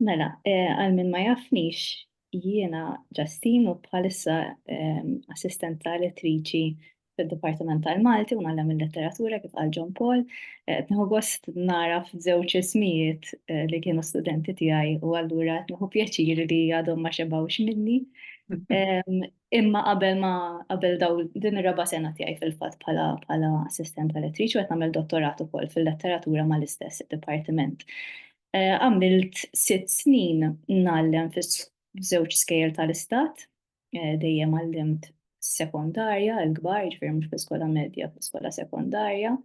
Mela, għal min ma jafnix, jiena Ġastin u bħalissa assistent ta' elettriċi fid-Dipartiment tal-Malti u nagħlem il-letteratura kif għal John Paul. Eh, qed nieħu gost nara f'żewġ ismijiet eh, li kienu studenti tiegħi u allura qed nieħu pjaċir li għadhom ma xebgħux minni. Imma qabel ma qabel daw din ir-raba' sena tiegħi fil-fatt bħala bħala assistent elettriċi qed nagħmel dottorat ukoll fil-letteratura mal-istess dipartiment. Għamilt sitt snin ngħallem f'żewġ skejjel tal-istat, dejjem għallimt sekondarja, il-kbar, jiġifieri mhux fl-iskola medja, fl-iskola sekondarja,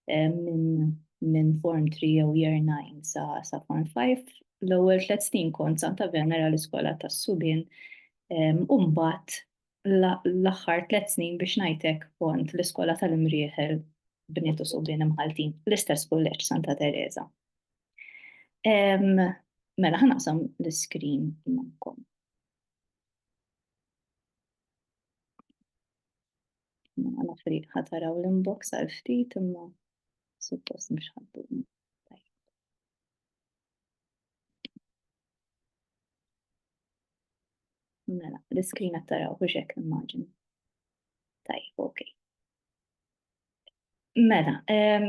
minn Form Three jew Year Nine sa Form Five. L-ewwel tliet snin kont Santa Venera l-iskola tas-subien u mbagħad l-aħħar tliet snin biex ngħidlek kont l-iskola tal-imrieħel bniet u subien imħaltin l-istess kulleġġ Santa Teresa. Mela ħanaqsam l-iskrin magħkom. Mela nafri ħataraw l-inbox għal ftit imma suppost mhux ħaddu. Mela, l-iskrin qed taraw biex hekk immaġin. Tajjeb, ok. Mela, ehm,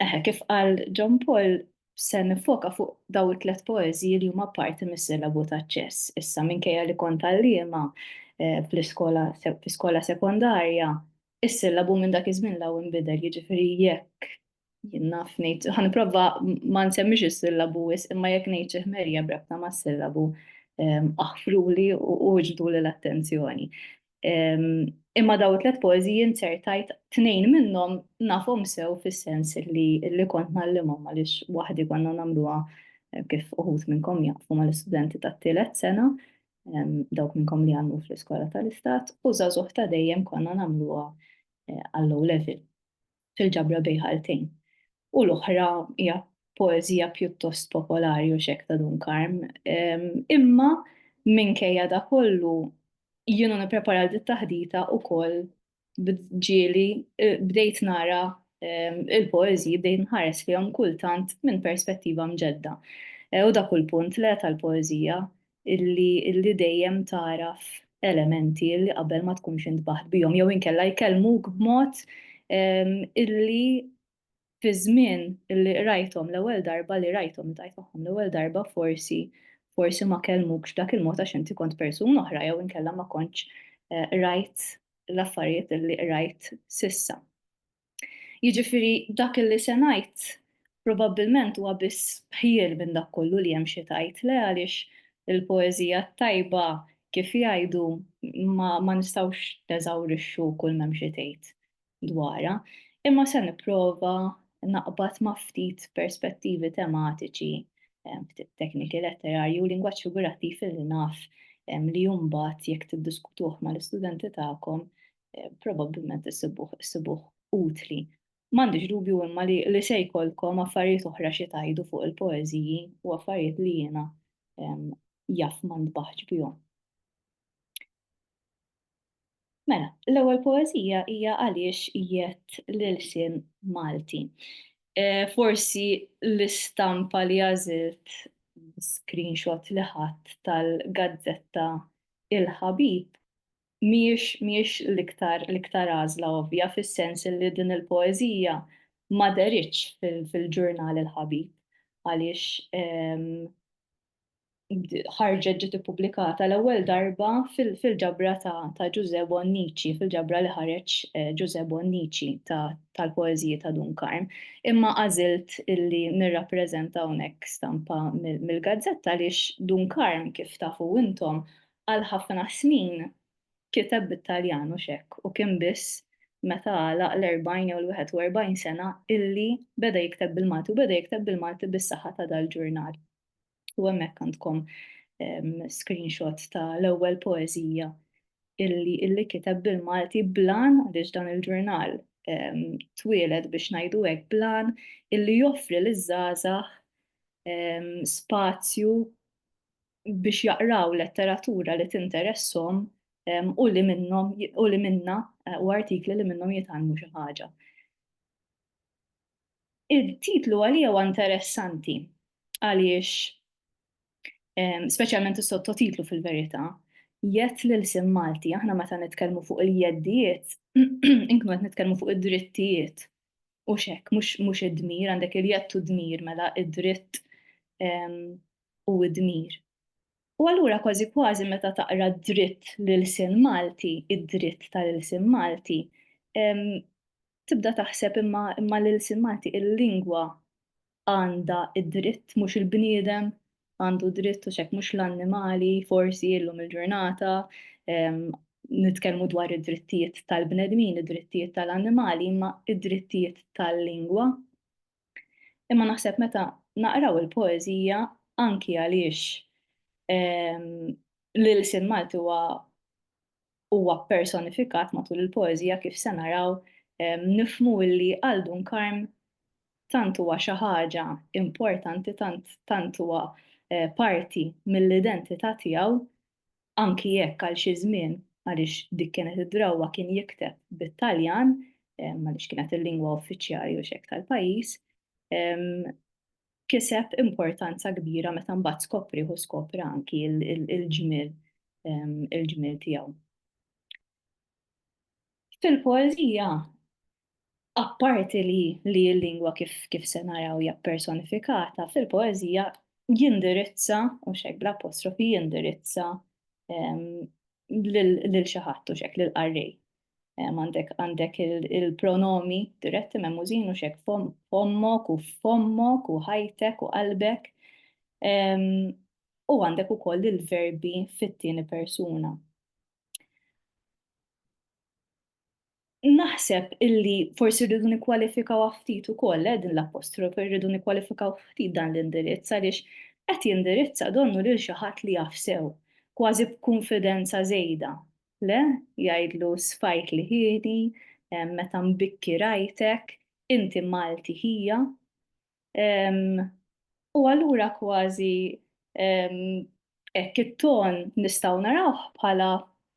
eħe kif qal John Paul se nifoka fuq daw it-tlet poezji li huma parti mis-silabu ta' ċess. Issa minkejja li kont għalliema eh, fl-iskola fl-iskola sekondarja is-sillabu minn dak iż-żmien l inbidel, jiġifieri jekk jien naf ngħid, ħanipprova ma nsemmix is-sillabu wis, imma jekk ngħid xi ħmerija b'rabta mas-sillabu ehm, aħfruli u ġdu l-attenzjoni. Ehm, imma daw tliet poeżiji insertajt tnejn minnhom nafhom sew fis-sens li li kont nallimhom għaliex waħdi konna nagħmluha eh, kif uħud minnkom jafu mal-istudenti tat-tielet sena dawk minnkom li għamlu fl-iskola tal-istat, u zazuħ ta' dejjem konna namluwa eh, għall-low level fil-ġabra bejħaltejn. U l-oħra hija poezija pjuttost popolari u xek ta' Dun Karm. Imma minkejja da kollu jienu nipprepara dit taħdita u koll b'ġieli bdejt nara il-poeżiji bdejt nħares fihom kultant minn perspettiva mġedda. U dak hu l-punt le tal-poeżija illi illi dejjem tagħraf elementi illi qabel ma tkunx intbaħt bihom jew inkella jkellmuk b'mod illi fiż-żmien li qrajthom l-ewwel darba li rajthom li tajt magħhom l-ewwel darba forsi forsi ma kellmukx b'dak il-mod għax inti kont persuna oħra jew inkella ma kontx rajt l-affarijiet li qrajt sissa. Jiġifieri dak li se ngħid probabbilment huwa biss bħiel minn dak kollu li hemm xi tajt le għaliex il-poeżija t-tajba kif jgħidu ma nistgħux neżawrixxu kull m'hemm xi tgħid. dwarha, imma se nipprova naqbad ma' ftit perspettivi tematiċi, ftit tekniki letterarji u lingwaġġ figurattiv li naf li mbagħad jekk tiddiskutuh mal-istudenti tagħkom probabbilment issibuh utli. M'għandix dubju imma li se jkollkom affarijiet oħra xi tgħidu fuq il-poeżiji u affarijiet li jiena jaf ma ntbaħx bihom. Mela, l-ewwel poeżija hija għaliex jett l-ilsien Malti. Eh, forsi l-istampa li għażilt screenshot li ħadd tal-gazzetta Il-Ħabib mhijiex mhijiex l-iktar l-iktar għażla ovvja fis-sens li din il-poeżija ma deritx fil-ġurnal Il-Ħabib għaliex ehm, ħarġet ġiet ippubblikata l-ewwel darba fil-ġabra ta' Ġużè Bonnici, fil-ġabra li ħareġ Ġużè Bonnici tal-poeżiji ta' Dun Karm. Imma għażilt illi nirrappreżenta hawnhekk stampa mill-gazzetta għaliex Dun Karm kif tafu intom għal ħafna snin kiteb bit-Taljan mhux hekk u kien biss meta għalaq l-40 jew l-41 sena illi beda jikteb bil-Malti u beda jikteb bil-Malti bis-saħħa ta' dal-ġurnal. U hemmhekk għandkom ehm, screenshot ta' l-ewwel poeżija illi illi kiteb bil-Malti blan għaliex dan il-ġurnal ehm, twieled biex ngħidu hekk blan illi joffri l żgħażagħ ehm, spazju biex jaqraw letteratura li tinteressom u li minnhom u li minna eh, u artikli li minnhom jitgħallmu xi ħaġa. Il-titlu għalija huwa interessanti għaliex speċjalment is-sottotitlu fil-verità jett lil sim Malti aħna meta nitkellmu fuq il-jeddijiet inkunu qed nitkellmu fuq id-drittijiet u xek mhux id-dmir għandek il-jett u d-dmir mela id-dritt u d-dmir. U allura kważi kważi meta taqra dritt lil sin Malti, id-dritt tal-ilsin Malti, tibda taħseb imma imma l-ilsien Malti, il-lingwa għandha d-dritt mhux il-bniedem għandu dritt u x'hekk mhux l-annimali forsi illum il-ġurnata nitkellmu dwar id-drittijiet tal-bnedmin, id-drittijiet tal-annimali imma id-drittijiet tal-lingwa. Imma naħseb meta naqraw il-poeżija anki għaliex l-ilsien Malti huwa huwa ppersonifikat matul il-poeżija kif se naraw nifhmu li għal Dun Karm tant huwa xi ħaġa importanti tant tant huwa parti mill-identità tiegħu anki jekk għal xi żmien għaliex dik kienet id-drawwa kien jikteb bit-Taljan għaliex kienet il-lingwa uffiċjali u x'hekk tal-pajjiż kiseb importanza kbira meta mbagħad skoprih u skopra anki l-ġmiel il-ġmiel tiegħu. Fil-poeżija apparti li li l-lingwa kif kif se naraw hija personifikata fil-poeżija jindirizza u xek bl-apostrofi jindirizza lil xi ħadd u xek lil qarrej. għandek għandek il-pronomi diretti memużin u xek fommok u fommok u ħajtek u qalbek. U għandek ukoll il-verbi fit-tieni persuna. Naħseb illi forsi rridu nikkwalifikaw ftit ukoll eh, din l-apostrof, rridu nikkwalifikaw ftit dan l-indirizz għaliex qed jindirizza donnu lil xi ħadd li jafsew, kważi b'kunfidenza żejda Le, jgħidlu sfajt liħieni, meta mbikki rajtek, inti Malti ħija. U allura kważi hekk it-ton nistgħu narawh bħala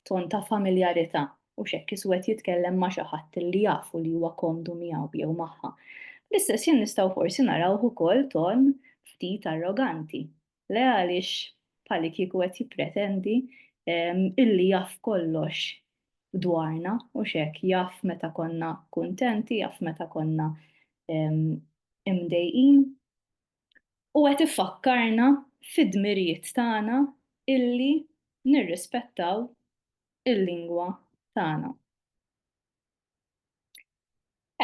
ton ta' familjarità, hux hekk is wed jitkellem ma' xi ħadd li jaf u li huwa komdu miegħu jew magħha. Fl-istess ħin nistgħu forsi narawh ukoll ton ftit arroganti. Le għaliex bħalli kieku qed jippretendi ehm, illi jaf kollox dwarna u xek jaf meta konna kuntenti, jaf meta konna ehm, imdejqin. U qed ifakkarna fid-dmirijiet tagħna illi nirrispettaw il-lingwa tagħna.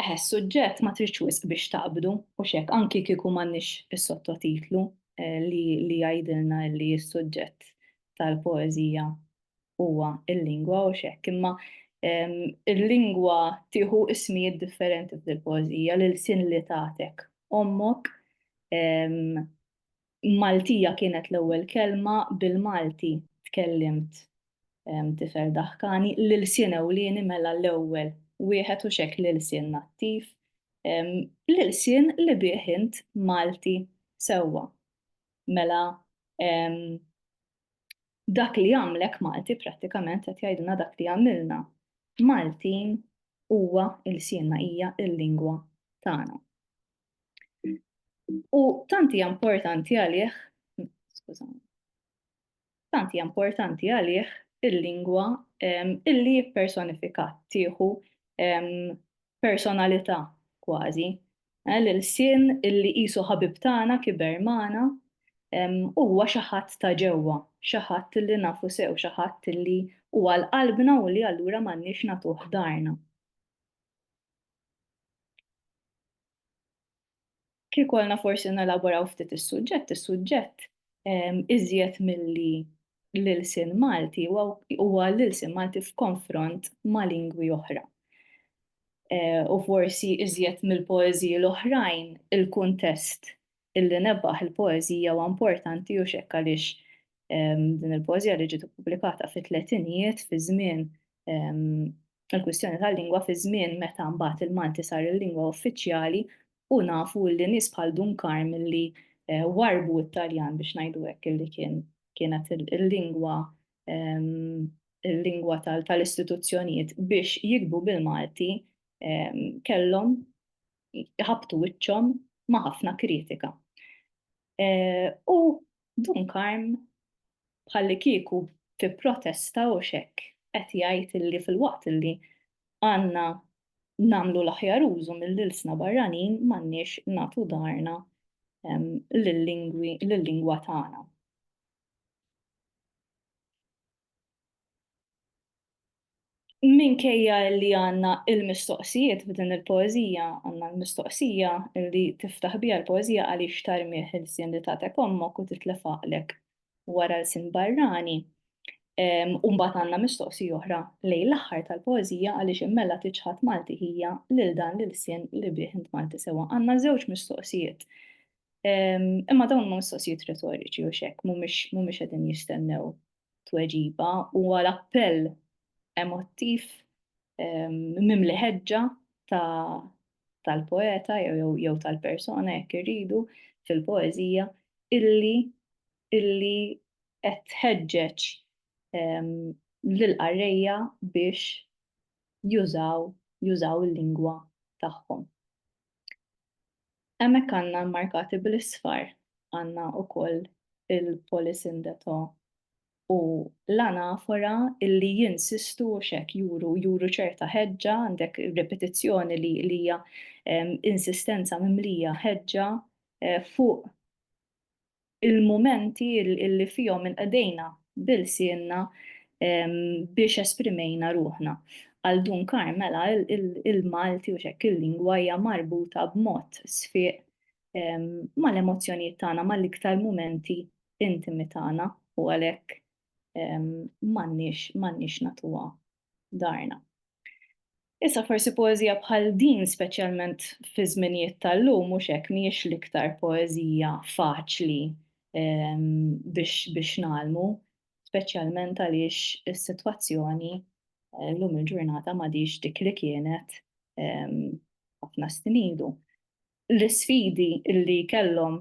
Eħe, s-suġġett ma tridx wisq biex taqbdu, hux hekk, anki kieku m'għandniex is-sottotitlu li li jgħidilna li s-suġġett tal-poeżija huwa l-lingwa, hux hekk, imma l-lingwa tieħu ismijiet differenti f'dil-poeżija, l-ilsien li tagħtek ommok, Maltija kienet l-ewwel kelma bil-Malti tkellimt Tifel Daħkani, l-ilsien ewlieni mela l-ewwel wieħed hux hekk l-ilsien nattiv, l-ilsien li bih int Malti sewwa. Mela dak li jagħmlek Malti prattikament qed jgħidilna dak li jagħmilna Maltin huwa ilsienna, hija l-lingwa tagħna. U tanti importanti għalih, skużani, tanti importanti għalih il-lingwa illi personifikat tieħu personalità kważi. Eh, L-sin illi qisu ħabib tagħna kiber magħna huwa xi ħadd ta' ġewwa, xi ħadd illi nafu sew, xi ħadd illi huwa l-qalbna u li allura m'għandniex nagħtuh darna. Kieku għalna forsi nelaboraw ftit is-suġġett, is-suġġett iżjed milli l-ilsien Malti huwa l-ilsien Malti f'konfront ma' lingwi oħra. U forsi iżjed mill-poeżiji l-oħrajn, il-kuntest illi nebaħ il-poeżija huwa importanti u x'hekk għaliex din il-poeżija li ġiet ippubblikata fit-tletinijiet fi żmien il-kwistjoni tal-lingwa fi żmien meta mbagħad il-Malti sar il-lingwa uffiċjali u nafu li nies bħal Dun Karm li eh, warbu it-Taljan biex ngħidu hekk illi kien kienet il-lingwa il-lingwa tal-istituzzjonijiet biex jikbu bil-Malti kellhom jħabtu wiċċhom ma' ħafna kritika. Eh, u Dun Karm bħalli kieku tipprotesta u xek qed jgħid illi fil-waqt illi għandna namlu l-aħjar użu mill-ilsna barranin m'għandniex natu darna lill-lingwa tagħna. Minkejja li għandna l-mistoqsijiet f'din il-poeżija, għandna l-mistoqsija li tiftaħ biha l-poeżija għaliex tarmih ilsien li tagħtek ommok u titlef għaqlek wara lsien barrani, u mbagħad għandna mistoqsija oħra lejn l-aħħar tal-poeżija għaliex immella tiċħad Malti hija lil dan l-ilsien li bih int Malti sewwa. Għandna żewġ mistoqsijiet. Imma dawn huma mistoqsijiet retoriċi u x'hekk, mhumiex qegħdin jistennew tweġiba huwa l-appell emottiv ehm, mimli ħeġġa tal-poeta jew tal-persona jekk irridu fil-poeżija illi illi qed tħeġġeġ ehm, lil qarrejja biex jużaw jużaw il-lingwa tagħhom. Hemmhekk għandna markati bl-isfar għandna wkoll il-polisindeto u l-anafora illi jinsistu xek juru juru ċerta ħeġġa għandek ripetizzjoni li li hija insistenza mimlija ħeġġa eh, fuq il-mumenti li fihom inqdejna b'ilsienna biex esprimejna ruħna. Għal Dun Carmela il-Malti u x'hekk il-lingwa hija marbuta b'mod sfieq mal-emozzjonijiet tagħna, mal-iktar mumenti intimi tagħna u għalhekk m'għandniex m'għandniex nagħtuha dharna. Issa forsi poeżija bħal din, speċjalment fiż-żminijiet tal-lum, mhux hekk, mhijiex l-iktar poeżija faċli biex ngħallmu, speċjalment għaliex is-sitwazzjoni llum il-ġurnata m'għadhiex dik li kienet ħafna snin ilu. l-isfidi li kellhom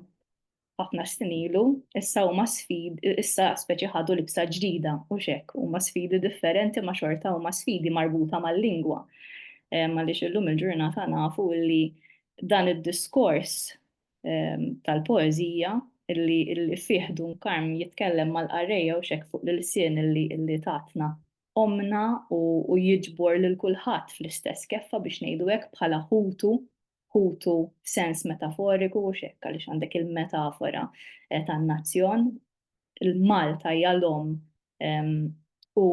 ħafna snin ilu, issa huma sfid, issa speċi ħadu libsa ġdida, hux hekk, huma sfidi differenti ma' xorta huma sfidi marbuta mal-lingwa. Eh, għaliex illum il-ġurnata nafu li dan id-diskors ehm, tal-poezija illi illi fih Dun Karm jitkellem mal-qarreja u xek fuq l-lsien illi illi tatna omna u, u jiġbor lil kulħadd fl-istess keffa biex ngħidu hekk bħala ħutu ħutu f'sens metaforiku u x'hekk għaliex għandek il-metafora eh, tan-nazzjon. Il-Malta hija l-om ehm, u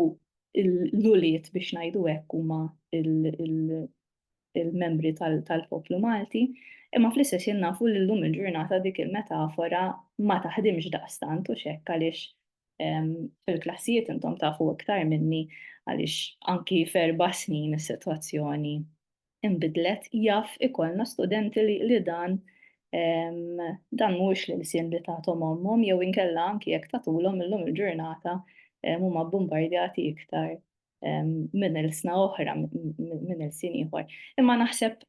l-uliet biex ngħidu hekk huma il-membri tal-poplu Malti, imma fl-istess jien nafu li llum il-ġurnata dik il-metafora ma taħdimx daqstant u x'hekk għaliex ehm, fil-klassijiet intom tafu iktar minni għaliex anki ferba snin is-sitwazzjoni inbidlet jaf ikollna studenti li, li dan dan mhuwiex l-ilsien li tagħthom ommhom jew inkella anki jekk tagħtulhom illum il-ġurnata huma bombardjati iktar minn ilsna oħra minn ilsien ieħor. Imma naħseb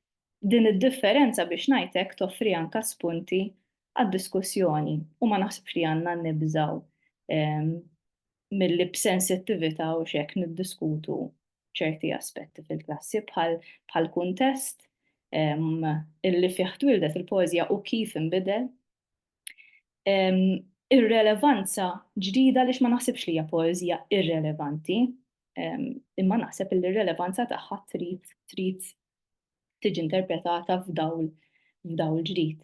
din id-differenza biex ngħidlek toffri anka spunti għad-diskussjoni u ma naħsibx li għandna nibżaw milli b'sensittività u x'hekk niddiskutu ċerti aspetti fil-klassi bħal bħal kuntest illi fih twildet il-poeżija u kif inbidel. Ir-relevanza ġdida għaliex ma naħsibx li hija poeżija irrelevanti, imma naħseb li r-relevanza tagħha trid trid tiġi interpretata f'dawl f'dawl ġdid.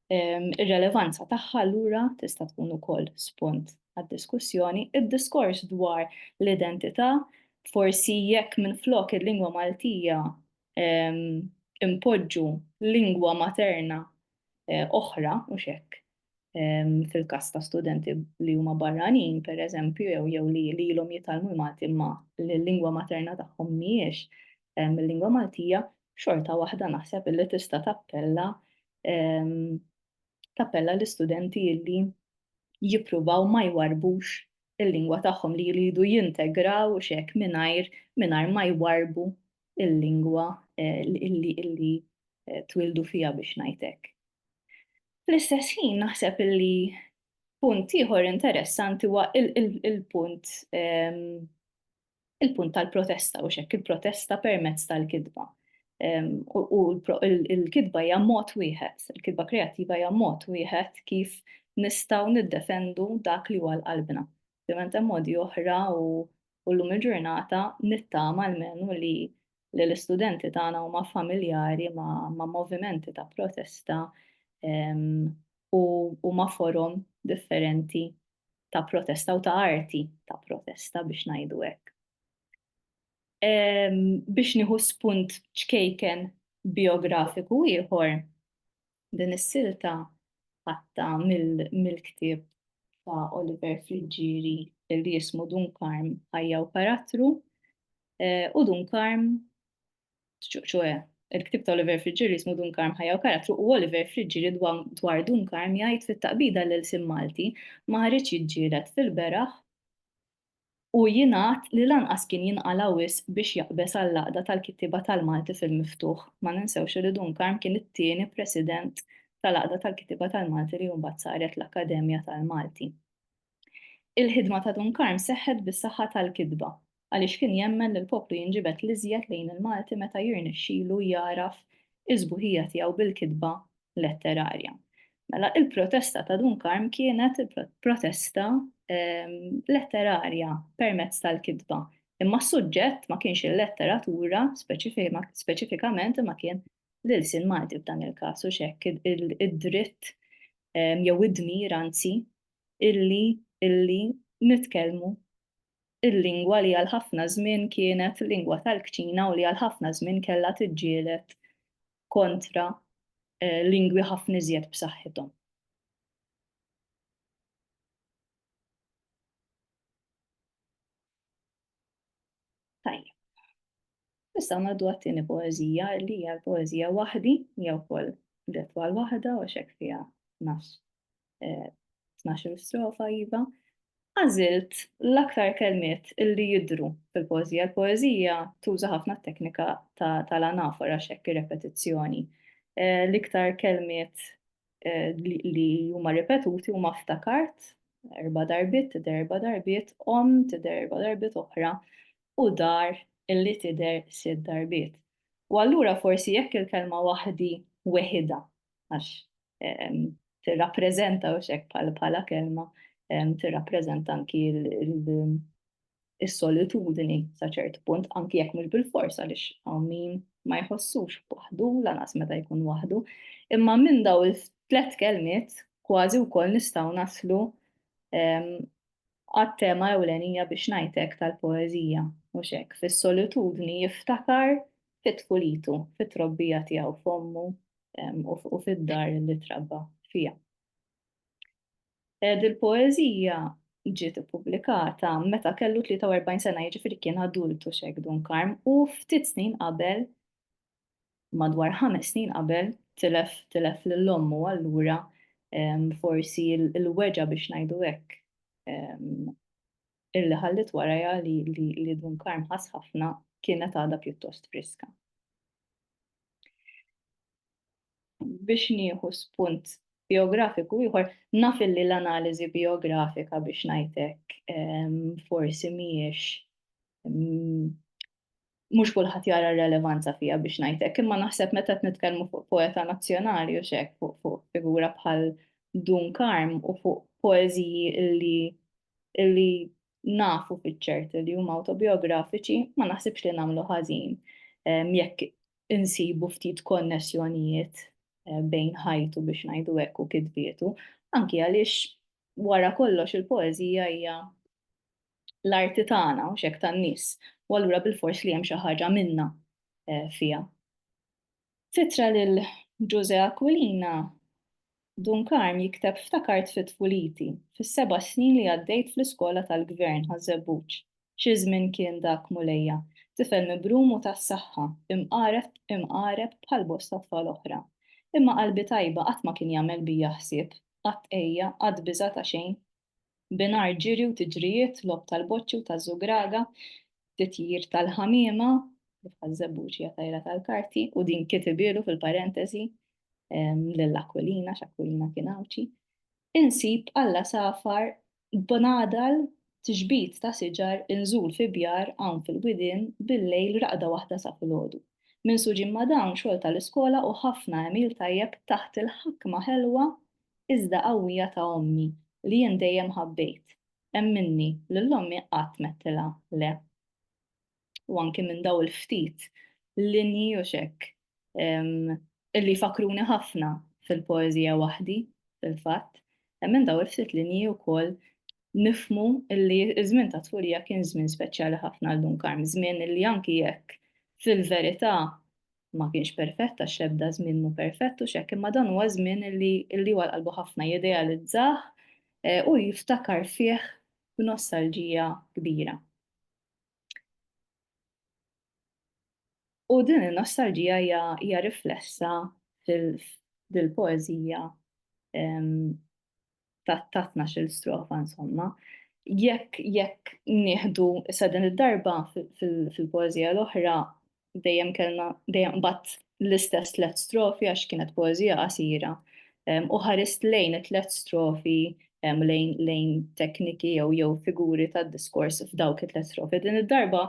Ir-relevanza tagħha allura tista' tkun ukoll spunt għad-diskussjoni. Id-diskors dwar l-identità forsi jekk minflok il-lingwa Maltija impoġġu lingwa materna oħra u x'hekk fil-każ ta' studenti li huma barranin, pereżempju, jew jew li li ilhom jitalmu l-Malti imma l-lingwa materna tagħhom mhijiex il-lingwa Maltija, xorta waħda naħseb li tista' tappella tappella l-istudenti li jippruvaw ma jwarrbux il-lingwa tagħhom li jridu jintegraw u x'hekk mingħajr mingħajr ma jwarrbu il-lingwa illi illi twildu fiha biex ngħid hekk. Fl-istess ħin naħseb illi punt ieħor interessanti huwa il-punt ehm, il-punt tal-protesta u xekk il-protesta permezz tal-kidba. Ehm, u l-kidba hija mod wieħed, il-kidba kreattiva hija mod wieħed kif nistgħu niddefendu dak li huwa l-qalbna. Ovvjament hemm modi oħra u u llum il-ġurnata nittama almenu li li l-istudenti tagħna huma familjari ma', ma movimenti ta' protesta um, u, u ma' forum differenti ta' protesta u ta' arti ta' protesta biex ngħidu hekk. Um, biex nieħu spunt ċkejken biografiku ieħor, Din is-silta ħadtha mill-ktieb ta' Oliver Friggieri li jismu Dun Karm, Ħajja u Karattru, u Dun Karm, ċoe, il-ktieb ta' Oliver Friggieri jismu Dun Karm, Ħajja u Karattru, u Oliver Friggieri dwar Dun Karm jgħid fit-taqbida l-ilsien Malti ma ħareġ jiġġieled fil-beraħ u jingħad li lanqas kien jinqala' wisq biex jaqbeż għall-Għaqda tal-Kittieba tal-Malti fil-miftuħ. Ma ninsewx li Dun Karm kien it-tieni President tal-Għaqda tal-Kittieba tal-Malti li mbagħad saret l-Akkademja tal-Malti. Il-ħidma ta' Dun Karm seħħet bis-saħħa tal-kitba, għaliex kien jemmen li l-poplu jinġibed l-iżjed lejn il-Malti meta jirnexxilu jagħraf is-sbuħija tiegħu bil-kitba letterarja. Mela, il-protesta ta' Dun Karm kienet protesta ehm, letterarja permezz tal-kitba. Imma s-suġġett ma kienx il-letteratura speċifikament imma kien l-ilsin Malti f'dan il-każ u xekk id-dritt ehm, jew id-dmir anzi illi illi nitkellmu il-lingwa li għal ħafna żmien kienet lingwa tal-kċina u li għal ħafna żmien kellha tiġġielet kontra lingwi ħafna iżjed b'saħħithom. Tajjeb. Issa ngħaddu għat-tieni poeżija li hija l-poeżija waħdi jew ukoll detwal waħda u xek fiha nafs 12 eh, strofa iva, għażilt l-aktar kelmiet illi jidru fil-poezija. Il-poezija tuża ħafna teknika tal-anafora xekk repetizzjoni. Eh, l-iktar kelmiet eh, li huma ripetuti huma ftakart, erba darbit, tider erba darbit, om, tider erba darbit oħra, u dar illi tider sid darbit. U allura forsi jekk il-kelma waħdi weħida għax tirrappreżenta u xek bħala kelma tirrappreżenta anki is-solitudni sa ċert punt anki jekk mhux bil-forsa għaliex hawn min ma jħossux waħdu lanqas meta jkun waħdu. Imma minn daw il-tlet kelmiet kważi wkoll nistgħu naslu għat-tema ewlenija biex ngħidlek tal-poeżija mhux hekk. Fis-solitudni jiftakar fi tfulitu, fit-trobbija tiegħu f'ommu u fid-dar li trabba fiha. Dil-poeżija ġiet ippubblikata meta kellu 43 sena, jiġifieri kien adultu x'hekk Dun Karm u ftit snin qabel, madwar ħames snin qabel, tilef tilef lil ommu allura forsi l-weġgħa biex ngħidu hekk illi ħalliet warajha li Dun Karm ħass ħafna kienet għadha pjuttost friska. Biex nieħu spunt biografiku ieħor, naf illi l-analiżi biografika biex ngħidlek ehm, forsi mhijiex ehm, mhux kulħadd jara r-relevanza fiha biex ngħid hekk, imma naħseb meta qed nitkellmu fuq poeta nazzjonali u x'hekk fuq figura bħal Dun Karm u fuq poeżiji illi illi nafu fiċ-ċert li huma awtobiografiċi, ma naħsibx li nagħmlu ħażin ehm, jekk insibu ftit konnessjonijiet eh, bejn ħajtu biex ngħidu hekk u kitbietu, anki għaliex wara kollox il-poeżija hija l-arti tagħna u x'hekk tan-nies, u allura bilfors li hemm xi ħaġa minna fiha. Fitra lil Ġużè Aquilina Dun Karm jikteb ftakart fi tfuliti, fis-seba' snin li għaddejt fl-iskola tal-gvern Ħaż-Żebbuġ. Xi żmien kien dak Mulejja, tifel mibrum u tas-saħħa, imqareb bħal bosta tfal oħra. Imma qalbi tajba qatt ma kien jagħmel bija ħsieb, qatt għejja, qatt biża' ta' xejn, binhar ġiri u tiġrijiet, logħob tal-boċċi u taż-żugraga, titjir tal-ħamiema, kif ħaż-żebbuġ hija tajra tal-karti, u din kitibielu fil-parentesi lil Aquilina x'Aquilina kien Għawdxi, insib alla safar b'nadal tixbit ta' siġar inżul fi bjar hawn fil-widien bil-lejl raqda waħda sa filgħodu. Minsuġin ma' dawn xogħol tal-iskola u ħafna għemil tajjeb taħt il-ħakma ħelwa iżda qawwija ta' ommi li jien dejjem ħabbejt, emminni, lil ommi qatt m'għedtilha le. U anki minn daw il-ftit linji u x'hekk illi jfakkruni ħafna fil-poeżija waħdi fil-fatt, minn daw il-ftit linji wkoll nifhmu illi ż-żmien tat-tfulija kien żmien speċjali ħafna għal Dun Karm, żmien illi anki jekk fil-verità ma kienx perfett għax l-ebda żmien mhu perfett u x'hekk, imma dan huwa żmien li li huwa qalbu ħafna jidealizzah eh, u jiftakar fih b'nostalġija kbira. U din il-nostalġija hija riflessa fil-poezija ta' tnax-il strofa insomma. Jekk jekk nieħdu sa din id-darba fil-poeżija l-oħra dejjem kellna dejjem qbad l-istess tliet strofi għax kienet poeżija qasira u ħarist lejn it-tliet strofi lejn tekniki jew jew figuri tad-diskors f'dawk it-tliet strofi. Din id-darba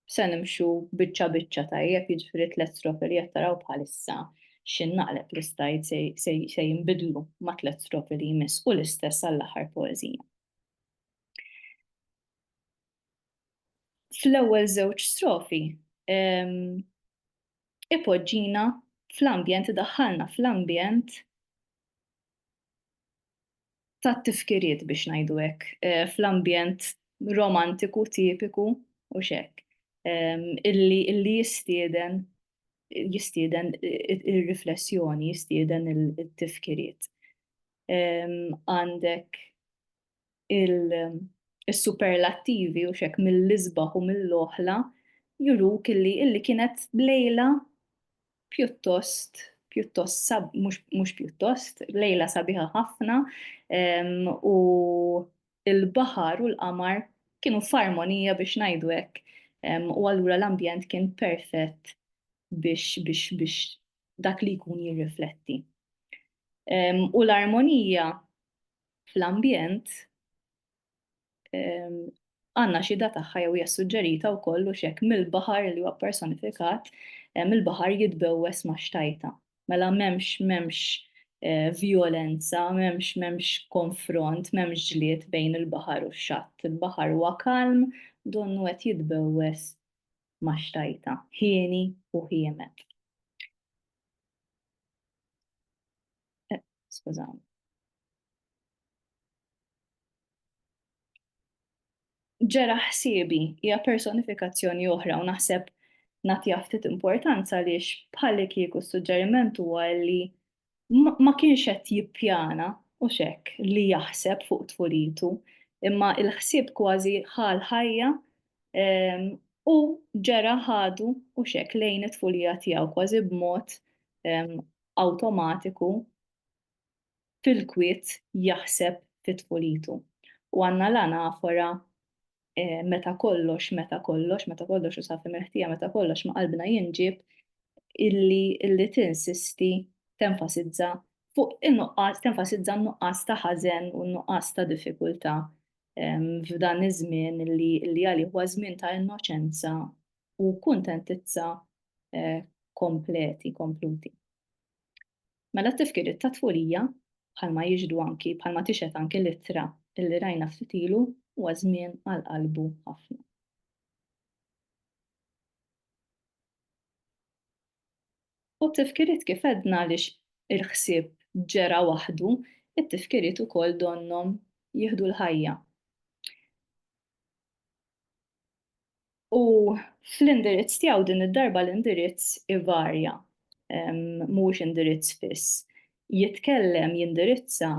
se nimxu biċċa biċċa tajjeb, jiġifieri tliet strofi li qed taraw bħalissa xi naqleb l-istajd se jinbidlu ma' tliet strofi li jmiss u l-istess għall-aħħar poeżija. Fl-ewwel żewġ strofi ipoġġina fl-ambjent, idaħħalna fl-ambjent tat-tifkiriet biex ngħidu hekk, fl-ambjent romantiku tipiku u x'hekk, illi jistieden jistieden ir-riflessjoni, jistieden it-tifkiriet. Għandek is-superlattivi u x'hekk mill-isbaħ u mill-oħla juruk illi illi kienet lejla pjuttost pjuttost sab mhux pjuttost lejla sabiħa ħafna u il-baħar u l-qamar kienu f'armonija biex ngħidu hekk u allura l-ambjent kien perfett biex biex biex dak li jkun jirrifletti. U l-armonija fl-ambjent għandna xhieda tagħha jew hija suġġerita wkoll u x'hekk mill-baħar li huwa personifikat, mill-baħar jitbewwes ma' xtajta. Mela m'hemmx m'hemmx eh, vjolenza, m'hemmx m'hemmx konfront, m'hemmx ġlied bejn il-baħar u x-xatt. Il-baħar huwa kalm, donnu qed jitbewwes ma' xtajta, ħieni u ħiemet. eh, skużawni. ġera ħsiebi hija personifikazzjoni oħra u naħseb nagħti ftit importanza għaliex bħalli kieku s-suġġeriment huwa li ma kienx qed jippjana u xek li jaħseb fuq tfulitu, imma il-ħsieb kważi ħal ħajja ehm, u ġera ħadu u xek lejn it-tfulija tiegħu kważi b'mod ehm, awtomatiku fil-kwiet jaħseb fi tfulitu. U għandna l-anafora meta kollox, meta kollox, meta kollox u safi mill-ħtija meta kollox ma' qalbna jinġieb illi illi tinsisti tenfasizza fuq in-nuqqas tenfasizza n-nuqqas ta' ħażen u n-nuqqas ta' diffikultà f'dan iż-żmien illi għalih huwa żmien ta' innoċenza u kuntentizza kompleti, kompluti. Mela t-tifkiriet ta' tfulija, bħalma jixhdu anki, bħalma tixhed anki l-ittra li rajna ftit ilu, huwa żmien għal qalbu ħafna. U t-tifkiriet kif għedna għaliex il-ħsieb ġera waħdu, it-tifkiriet ukoll donnhom jieħdu l-ħajja. U fl-indirizz tiegħu din id-darba l-indirizz ivarja, mhuwiex indirizz fiss. Jitkellem, jindirizza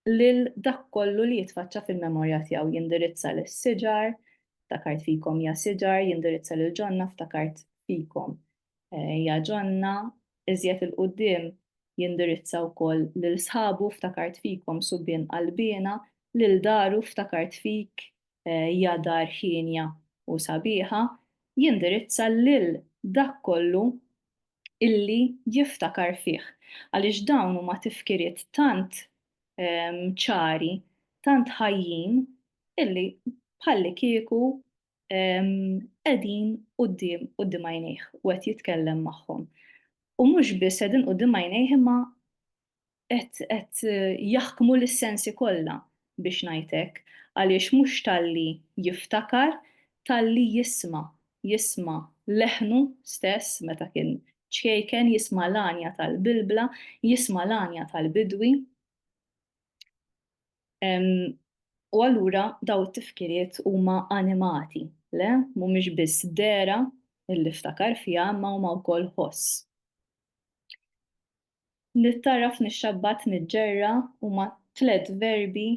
lil dak kollu li jitfaċċa fil-memorja tiegħu, jindirizza lis-siġar, ftakart fikom ja siġar, jindirizza lil ġonna, ftakart fikom ja ġonna, iżjed il-quddiem jindirizza wkoll lil sħabu, ftakart fikom subien qalbiena, lil daru, ftakart fik, hija dar hienja u sabiħa, jindirizza lil dak kollu illi jiftakar fih, għaliex dawn huma tifkiriet tant ċari, tant ħajjin illi bħallikieku qegħdin quddiem quddiem għajnejh u qed jitkellem magħhom. U mhux biss qegħdin quddiem għajnejh imma qed jaħkmu lis-sensi kollha biex ngħid hekk, għaliex mhux talli jiftakar, talli jisma', jisma' leħnu stess meta kien ċkejken, jisma' l-għanja tal-bilbla, jisma' l-għanja tal-bidwi. U allura dawn it-tifkiriet huma animati, le, mhumiex biss dehra li ftakar fiha imma huma wkoll ħoss. Li tagħraf nixxabbat niġġerra huma tliet verbi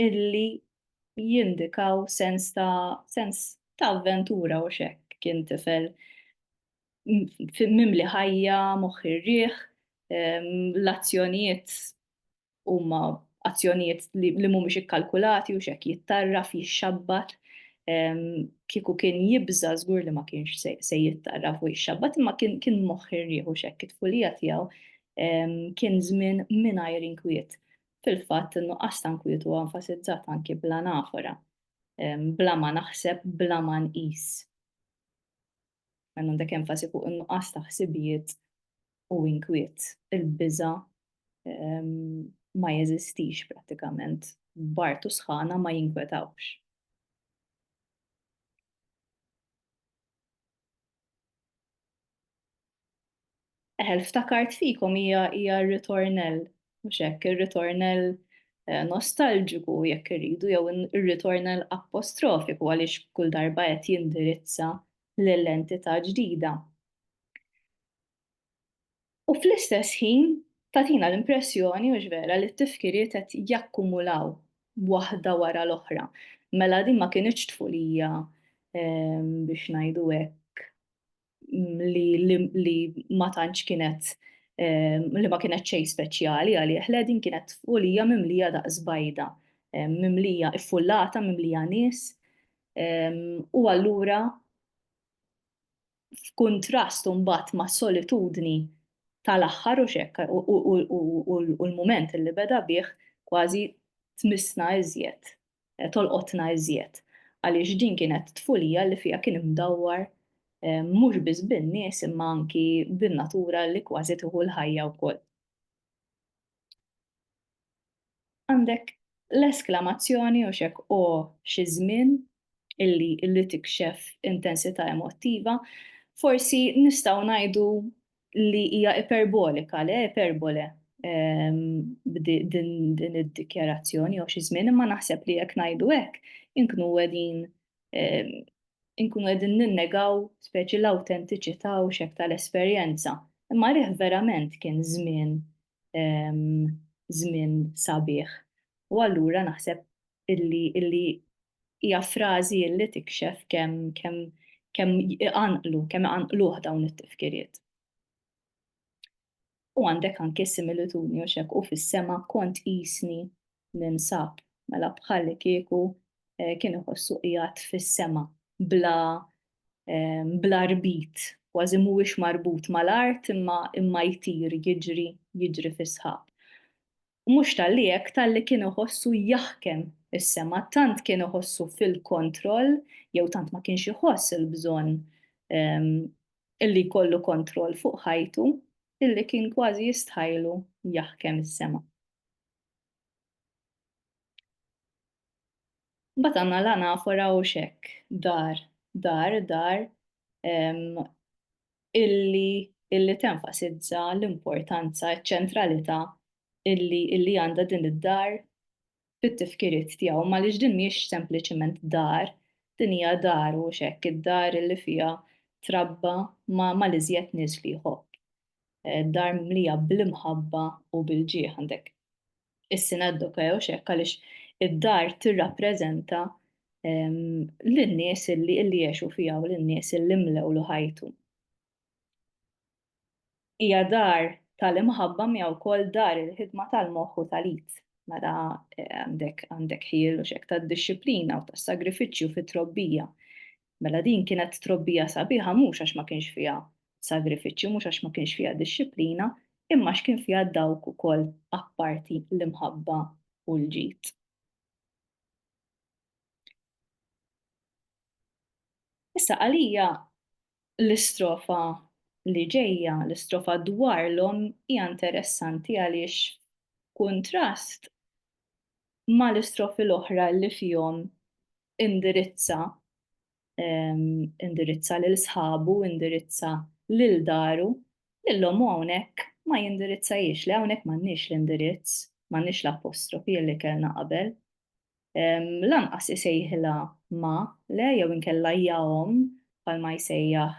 illi jindikaw sens ta' sens ta' avventura u x'hekk. Kien tifel mimli ħajja, moħħ irrieħ, l-azzjonijiet huma azzjonijiet li mhumiex ikkalkulati u x'hekk jittarraf, jixxabbat, kieku kien jibża' żgur li ma kienx se jittarraf u jixxabbat imma kien moħħ irħieħ u x'hekk it-tfulija tiegħu kien żmien mingħajr inkwiet. Fil-fatt, in-nuqqas ta' nkwiet huwa enfasizzat anki bl-anafora, bla ma naħseb, bla ma nqis. Hemm għandek enfasi fuq in-nuqqas ta' ħsibijiet u inkwiet. Il-biża' ma jeżistix prattikament. B'art u sħana ma jinkwetawx. Eħe, l-ftakart fikom hija hija r-ritornell, mhux hekk, ir-ritornell nostalġiku jekk irridu jew ir-ritornell apostrofiku għaliex kull darba qed jindirizza lil entità ġdida. U fl-istess ħin tagħtina l-impressjoni mhux vera li t-tifkiriet qed jakkumulaw waħda wara l-oħra. Mela din ma kinitx tfulija biex ngħidu hekk li ma tantx kienet li ma kienet xejn speċjali għalih le din kienet folija mimlija daqs bajda, mimlija iffullata, mimlija nies. U allura f'kuntrast imbagħad mas-solitudni tal-aħħar hux hekk u l-mument li beda bih kważi tmissna iżjed tolqotna iżjed għaliex din kienet tfulija li fiha kien imdawwar mhux biss bin-nies imma anki bin-natura li kważi tieħu l-ħajja wkoll. Għandek l-esklamazzjoni u x'hekk o xi żmien illi illi tikxef intensità emottiva, forsi nistgħu ngħidu li hija iperbolika, le iperbole din id-dikjarazzjoni jew xi żmien, imma naħseb li jekk ngħidu hekk inkunu qegħdin inkunu qegħdin ninnegaw speċi l-awtentiċità u x'hekk tal-esperjenza. Imma rih verament kien żmien żmien sabiħ. U allura naħseb illi illi hija frażi illi tikxef kemm kemm kemm iqanqlu, kemm iqanqluh dawn it-tifkiriet. U għandek anke similitudni u xek u fis-sema kont isni ninsab, mela bħalli kieku eh, kien iħossu qiegħed fis-sema bla eh, bla rbit, kważi mhuwiex marbut mal-art imma imma jtir jiġri jiġri fis-sħab. U mhux talli hekk, talli kien iħossu jaħkem is-sema, tant kien iħossu fil-kontroll, jew tant ma kienx iħoss il-bżonn illi jkollu kontroll fuq ħajtu, illi kien kważi jistħajlu jaħkem is-sema. Mbagħad għandna l-anafora u x'hekk, dar, dar, dar, illi tenfasizza l-importanza, iċ-ċentralità illi għandha din id-dar fit-tifkiriet tiegħu, għaliex din mhijiex sempliċiment dar, din hija dar u x'hekk, id-dar illi fiha trabba mal-iżjed nies li jħobb. Dar mimlija bl-imħabba u bil-ġieħ għandek is-sinaddoka jew x'hekk għaliex id-dar tirrappreżenta lin-nies illi jgħixu fiha u lin-nies illi mlewlu ħajtu. Hija dar tal-imħabba miegħu wkoll dar il-ħidma tal-moħħ u tal-id. Mela għandek għandek ħiel u xek tad-dixxiplina u tas-sagrifiċċju fit-trobbija. Mela din kienet trobbija sabiħa mhux għax ma kienx fiha sagrifiċċju, mhux għax ma kienx fiha dixxiplina, imma għax kien fiha dawk ukoll apparti l-imħabba u l-ġid. Issa għalija l-istrofa li ġejja, l-istrofa dwar l-om hija interessanti għaliex kuntrast ma l-istrofi l-oħra li fihom indirizza indirizza lil sħabu, indirizza lil daru, lillhom hawnhekk ma jindirizzajiex li hawnhekk m'għandniex l-indirizz, m'għandniex l-apostrofi li kellna qabel. Lanqas isejħilha ma le jew inkella jahom bħalma jsejjaħ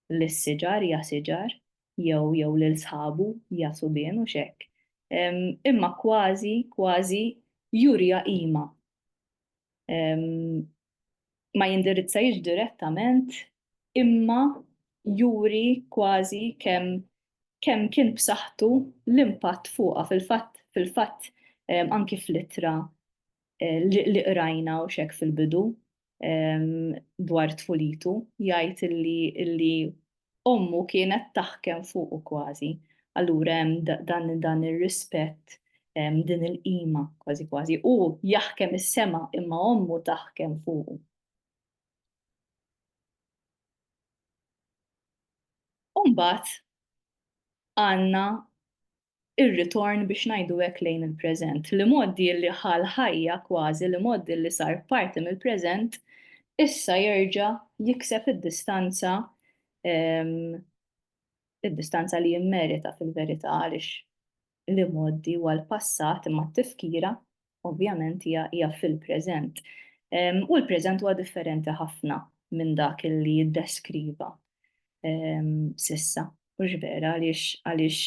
lis-siġar, ja siġar, jew jew lil sħabu, ja subien, u x'hekk. Imma kważi, kważi juriha qima. Ma jindirizzahiex direttament imma juri kważi kemm kemm kien b'saħħtu l-impatt fuqha fil-fatt fil-fatt anki fl-ittra li qrajna u x'hekk fil-bidu dwar tfulitu, jgħid illi illi ommu kienet taħkem fuqu kważi. Allura hemm dan dan ir-rispett din il-qima kważi kważi. Hu jaħkem is-sema imma ommu taħkem fuqu. Umbagħad għandna ir-ritorn biex ngħidu hekk lejn il-preżent, l-imgħoddi li ħa l-ħajja kważi, l-imgħoddi li sar parti mill-preżent, issa jerġa' jikseb id-distanza, id-distanza li jimmerita fil-verità għaliex l-imgħoddi huwa l-passat imma t-tifkira ovvjament hija fil-preżent. U l-preżent huwa differenti ħafna minn dak li jiddeskriva sissa. Mhux vera għaliex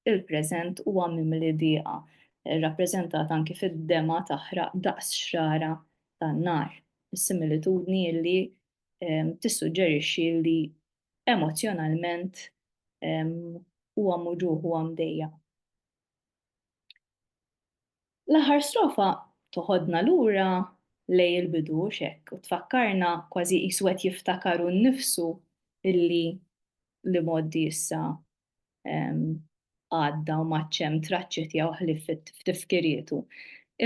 il-preżent huwa mimli dieqa, rappreżentat anki fid-dema taħraq daqs xrara tan-nar, similitudni li tissuġġerixxi li emozzjonalment huwa mewġugħ, huwa mdejjaq. L-aħħar strofa toħodna lura lejn il-bidu hux hekk u tfakkarna kważi qisu qed jiftakar hu nnifsu illi l-imgħoddi issa għadda u m'għadx hemm traċċi tiegħu ħlief f'tifkirietu.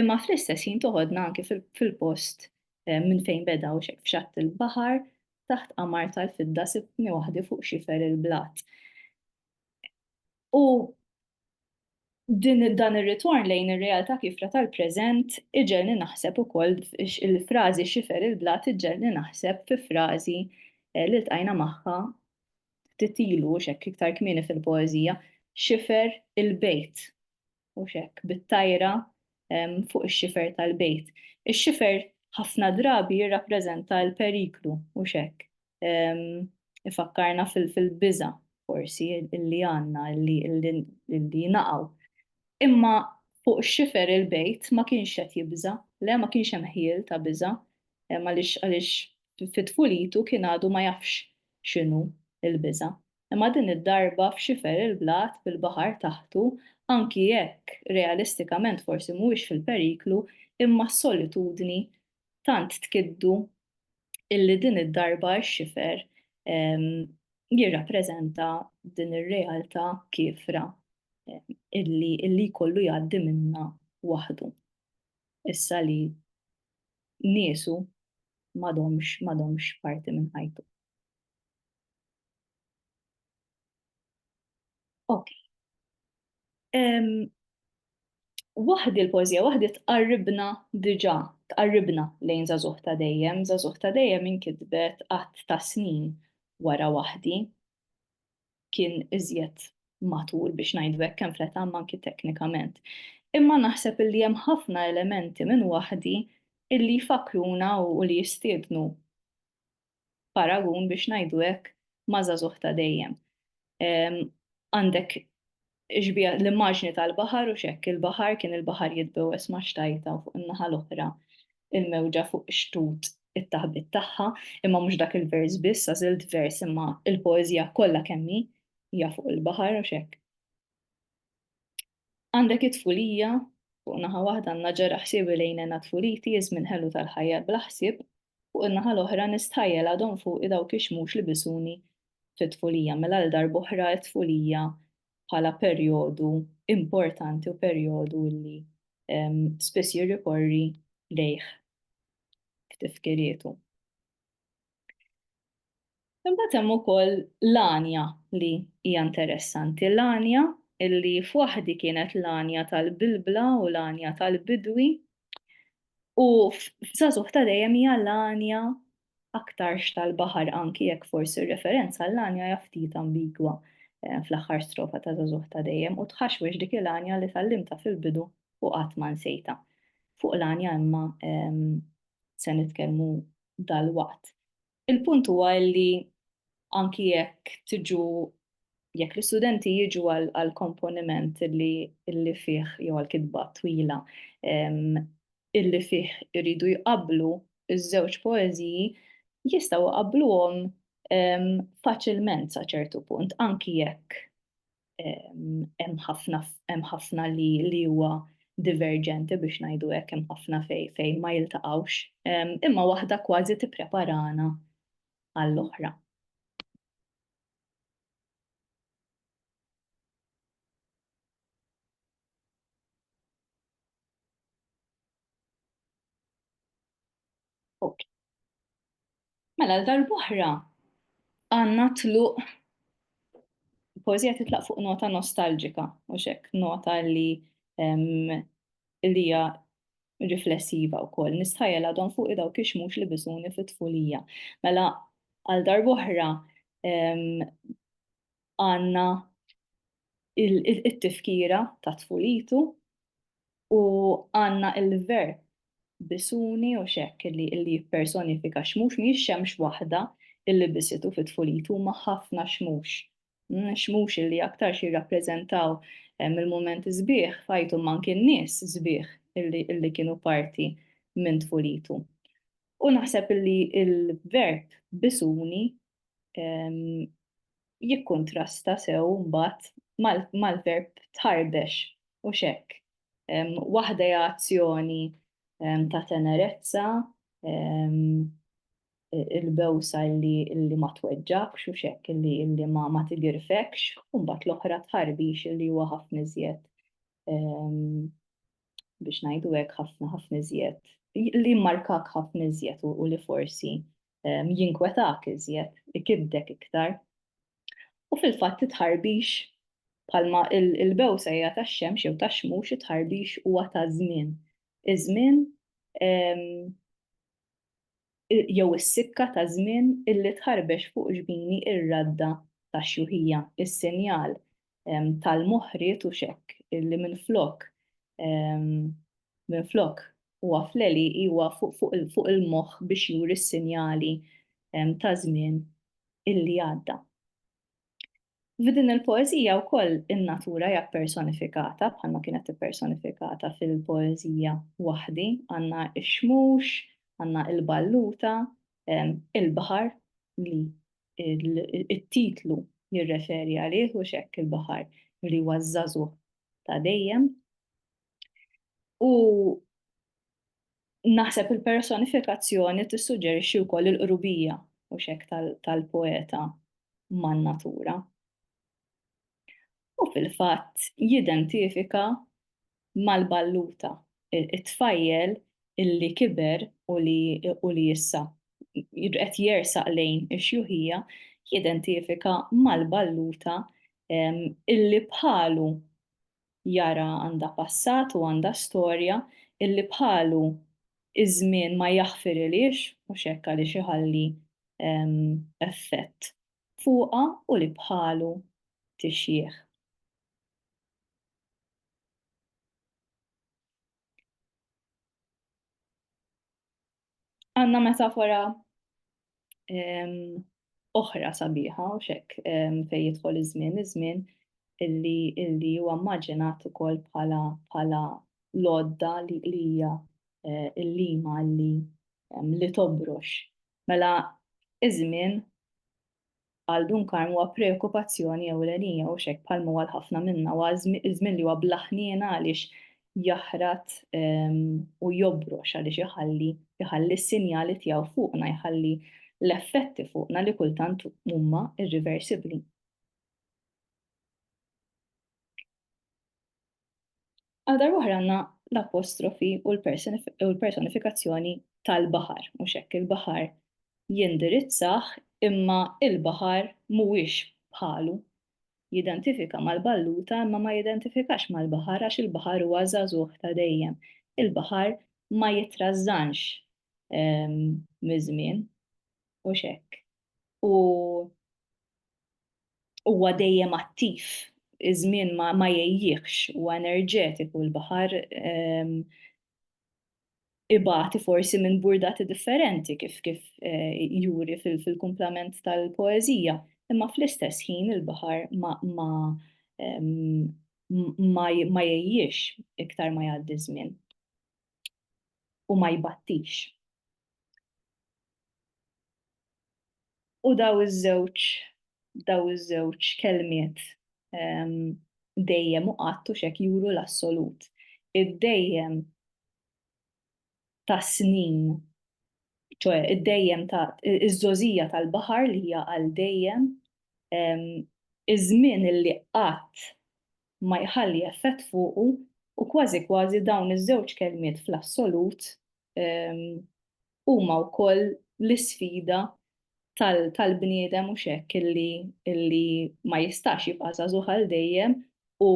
Imma fl-istess ħin toħodna anke fil-post minn fejn beda hux hekk f'xatt il-baħar taħt qamar tal-fidda sibtni waħdi fuq xifer il-blat. U din dan ir-ritorn lejn ir-realtà kifra tal-preżent iġelni naħseb ukoll il-frażi xifer il-blat iġelni naħseb fi frażi eh, li ltqajna magħha ftit ilu x'hekk iktar kmieni fil-poeżija xifer il-bejt. u x'hekk bit-tajra fuq ix-xifer tal-bejt. Ix-xifer ħafna drabi jirrappreżenta l-periklu u x'hekk. Ifakkarna fil-biża' forsi li għandna li naqgħu. Imma fuq ix-xifer il-bejt ma kienx qed jibża', le ma kienx hemm ħjiel ta' biża' għaliex fi tfulitu kien għadu ma jafx x'inhu l-biża'. imma din id-darba f'xifer il-blat bil-baħar taħtu anki jekk realistikament forsi mhuwiex fil-periklu imma s-solitudni tant tkiddu illi din id-darba x-xifer jirrappreżenta din ir-realtà kiefra illi illi jkollu jgħaddi minnha waħdu issa li niesu m'għadhomx m'għadhomx parti minn ħajtu. Ok. Um, waħdi l-poezija, waħdi tqarribna diġa, tqarribna lejn zazuħ ta' dejjem, zazuħ ta' dejjem inkitbet għat ta' snin wara waħdi. Kien iżjed matur biex ngħidu hekk kemm fl-età manki teknikament. Imma naħseb li hemm ħafna elementi minn waħdi illi jfakruna u li jistiednu paragun biex ngħidu hekk ma' żagħżugħ ta' dejjem. Għandek xbieha l-immaġni tal-baħar u x'hekk il-baħar kien il-baħar jitbewwes ma' xtajta u fuq in-naħa l-oħra il-mewġa fuq xtut it-taħbit tagħha, imma mhux dak il-vers biss, għażilt vers imma il-poeżija kollha kemm hi hija fuq il-baħar u x'hekk. Għandek it-tfulija, fuq naħa waħda għandna ġera ħsiebi lejn nena tfuliti, iż-żmien ħelu tal-ħajja bla ħsieb, fuq in-naħa l-oħra nistħajjel għadhom fuqi dawk ix-xmux li bisuni fit-tfulija. Mela għal darb'oħra t-tfulija bħala perjodu importanti u perjodu li spiss jirrikorri lejh f'tifkirietu. Imbagħad hemm ukoll l-għanja li hija interessanti. L-għanja li f'waħdi kienet l-għanja tal-bilbla u l-għanja tal-bidwi u f'żagħżugħ ta' dejjem hija l-għanja aktarx tal-baħar anki jekk forsi r-referenza l-għanja hija ftit ambigwa eh, fl-aħħar strofa ta' żagħżugħ ta' dejjem u tħaxwex dik il-għanja li tal-limta fil-bidu u qatt ma nsejta. Fuq l-għanja imma ehm, se nitkellmu dalwaqt. Il-punt huwa li anki jekk tiġu jekk l-istudenti jiġu għal komponiment li illi fih jew għal kitba twila illi fih iridu jqablu iż-żewġ poeżiji jistgħu jqabbluhom faċilment sa ċertu punt anki jekk hemm ħafna hemm ħafna li li huwa diverġenti biex ngħidu hekk hemm ħafna fej fejn ma jiltaqgħux, imma waħda kważi tippreparana għall-oħra. Mela l-darbohra għanna tluq poezija titlaq fuq nota nostalġika, u xek nota li li hija riflessiva u koll. Nistħajel għadhom fuq idaw kixmux li bisuni fit-tfulija. Mela għal darbohra għandna it-tifkira ta' tfulitu u għandna l-verb bisuni u x'hekk li jippersonifika xmux, mhijiex xemx waħda li bisitu fi tfulitu huma ħafna xmux. Mm, xmux li aktarx jirrappreżentaw eh, mill-mument sbieħ fajtu manki n-nies sbieħ illi kienu parti minn tfulitu. U naħseb li il-verb bisuni jikkuntrasta sew mbagħad mal-verb tħarbex u xekk. Waħda hija azzjoni ta' tenerezza, il-bewsa li ma tweġġakx u xekk li ma tigirfekx, u mbagħad l-oħra tħarbix li huwa ħafna iżjed biex ngħidu hekk ħafna ħafna iżjed li markak ħafna iżjed u li forsi jinkwetak iżjed, ikiddek iktar. U fil-fatt it-tħarbix bħalma l-bewsa hija tax-xemx jew tax-xmux, it-tħarbix huwa ta' żmien. Iż-żmien jew is-sikka ta' żmien illi tħarbex fuq ġbini r-radda tax-xjuħija, is-sinjal tal-moħriet u x'hekk, li minflok minflok huwa fleli huwa fuq il-moħħ biex juri s-sinjali ta' żmien illi għadda. F'din il-poeżija wkoll in-natura hija ppersonifikata bħalma kienet ippersonifikata fil-poeżija waħdi, għandna x-xmux, għandna l-balluta, il-baħar li it-titlu jirreferi għalih u x'hekk il-baħar li huwa żagħżugħ ta' dejjem. U naħseb il-personifikazzjoni tissuġġerixxi wkoll il-qrubija u xek tal-poeta man-natura. U fil-fatt jidentifika mal-balluta, it-tfajjel li kiber u li issa qed jersaq lejn ix-xjuħija jidentifika mal-balluta li bħalu jara għandha passat u għandha storja, li bħalu ż-żmien ma jaħfirilhiex, mhux hekk għaliex iħalli effett fuqha u li bħalu tixjieħ. Għanna metafora ehm, oħra sabiħa u xek ehm, fej jidħol iż-żmien, iż-żmien illi illi huwa immaġinat ukoll bħala bħala lodda li hija eh, l-lima li ehm, li tobrox. Mela iż-żmien għal Dun Karm huwa preokkupazzjoni ewlenija mhux hekk bħal ma huwa għal ħafna minna huwa ż-żmien li huwa bla ħniena għaliex jaħrat ehm, u jobrox għaliex iħalli iħalli s-sinjali tiegħu fuqna jħalli l-effetti fuqna li kultant huma irriversibbli. Għal darbohra għandna l-apostrofi u l-personifikazzjoni tal-baħar, mhux hekk il-baħar jindirizzah imma il-baħar mhuwiex bħalu. Jidentifika mal-balluta imma ma jidentifikax mal-baħar għax il-baħar huwa żagħżugħ ta' dejjem. Il-baħar ma jitrażżanx ehm, miż-żmien, mhux hekk. U huwa dejjem attiv, iż-żmien ma, ma jgħejjiehx, huwa enerġetiku, l-baħar ehm, ibati forsi minn burdati differenti kif kif eh, juri fil-kumplament tal-poeżija, imma fl-istess ħin il-baħar ma ma ehm, ma jgħejjiex iktar ma jgħaddi żmien u ma jbattix. U daw iż-żewġ daw iż-żewġ kelmiet dejjem u qatt u x'hekk juru l-assolut. Id-dejjem tas-snin, ċoe id-dejjem ta' iż-żgħożija tal-baħar li hija għal dejjem, iż-żmien li qatt ma jħalli effett fuqu u kważi kważi dawn iż-żewġ kelmiet fl-assolut huma wkoll l-isfida tal-bniedem mhux hekk illi ma jistax jibqa' żagħżugħ għal dejjem u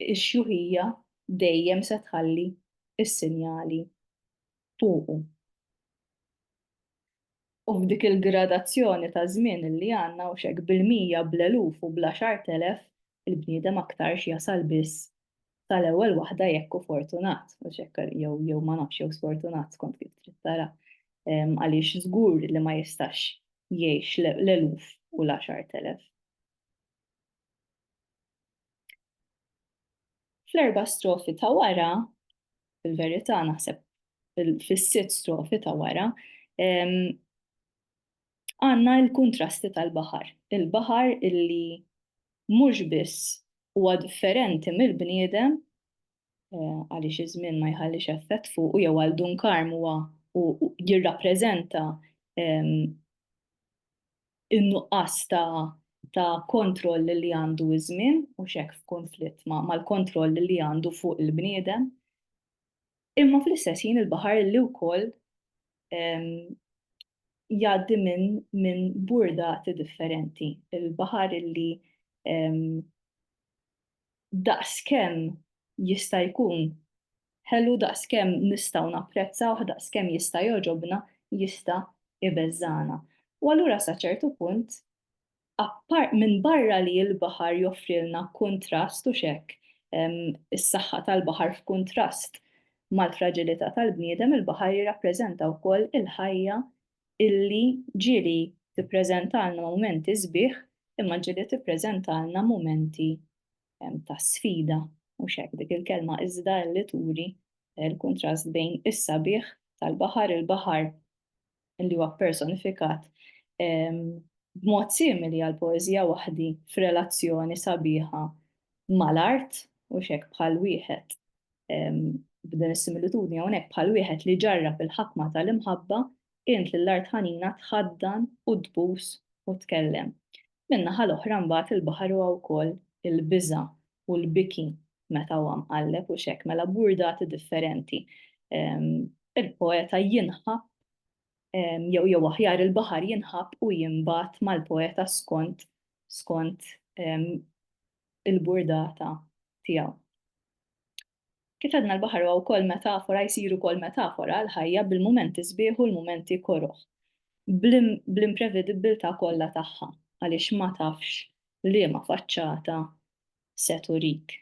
x-xjuħija dejjem se tħalli s-sinjali fuqu. U f'dik il-gradazzjoni ta' żmien li għandna hux hekk bil-mija, bl-eluf u bl-għaxart elef, il-bniedem aktarx jasal biss sal-ewwel waħda jekk hu fortunat, hux hekk, jew jew ma nafx jew sfortunat skont kif trid tara, għaliex żgur li ma jistax jgħix l-eluf u l-għaxart elef. Fl-erba' strofi ta' wara fil-verità naħseb fis-sitt strofi ta' wara, għandna l-kuntrasti tal-baħar. Il-baħar illi mhux biss huwa differenti mill-bniedem għaliex iż-żmien ma jħallix effett fuqu jew għal Dun Karm huwa jirrappreżenta in-nuqqas ta' ta' kontroll li għandu iż-żmien u x'hekk f'kunflitt mal-kontroll li għandu fuq il-bniedem. Imma fl-istess ħin il-baħar li wkoll jgħaddi minn min burdati differenti. Il-baħar illi daqskemm jista' jkun ħelu, daqskemm nistgħu napprezzawh, daqskemm jista' jogħġobna, jista' jbeżżagħna. U allura sa ċertu punt, appar-, minbarra li l-baħar joffrilna kuntrast u x'hekk, is-saħħa tal-baħar f'kuntrast mal-fraġilità tal-bniedem, il-baħar jirrappreżenta wkoll il-ħajja illi ġieli tippreżentalna mumenti sbieħ imma ġieli tippreżentalna mumenti ta' sfida, mhux hekk dik il-kelma iżda li turi l-kuntrast bejn is-sabiħ tal-baħar, il-baħar li huwa ppersonifikat b'mod simili għal poeżija waħdi f'relazzjoni sabiħa mal-art, mhux hekk bħal wieħed b'din is-similitudni hawnhekk bħal wieħed li ġarrab il-ħakma tal-imħabba int lil art ħanina tħaddan u tbus u tkellem. Min-naħa l-oħra mbagħad il-baħar huwa wkoll il-biża' u l-biki meta huwa mqalleb u x'hekk mela burdati differenti. Il-poeta jinħab jew jew aħjar il-baħar jinħab u jinbat mal-poeta skont skont il-burdata tiegħu. Kif għedna l-baħar huwa wkoll metafora, jsir ukoll metafora għall-ħajja bil-mumenti sbieħ u l-mumenti koroh, bl-imprevedibbiltà kollha tagħha, għaliex ma tafx liema faċċata se turik.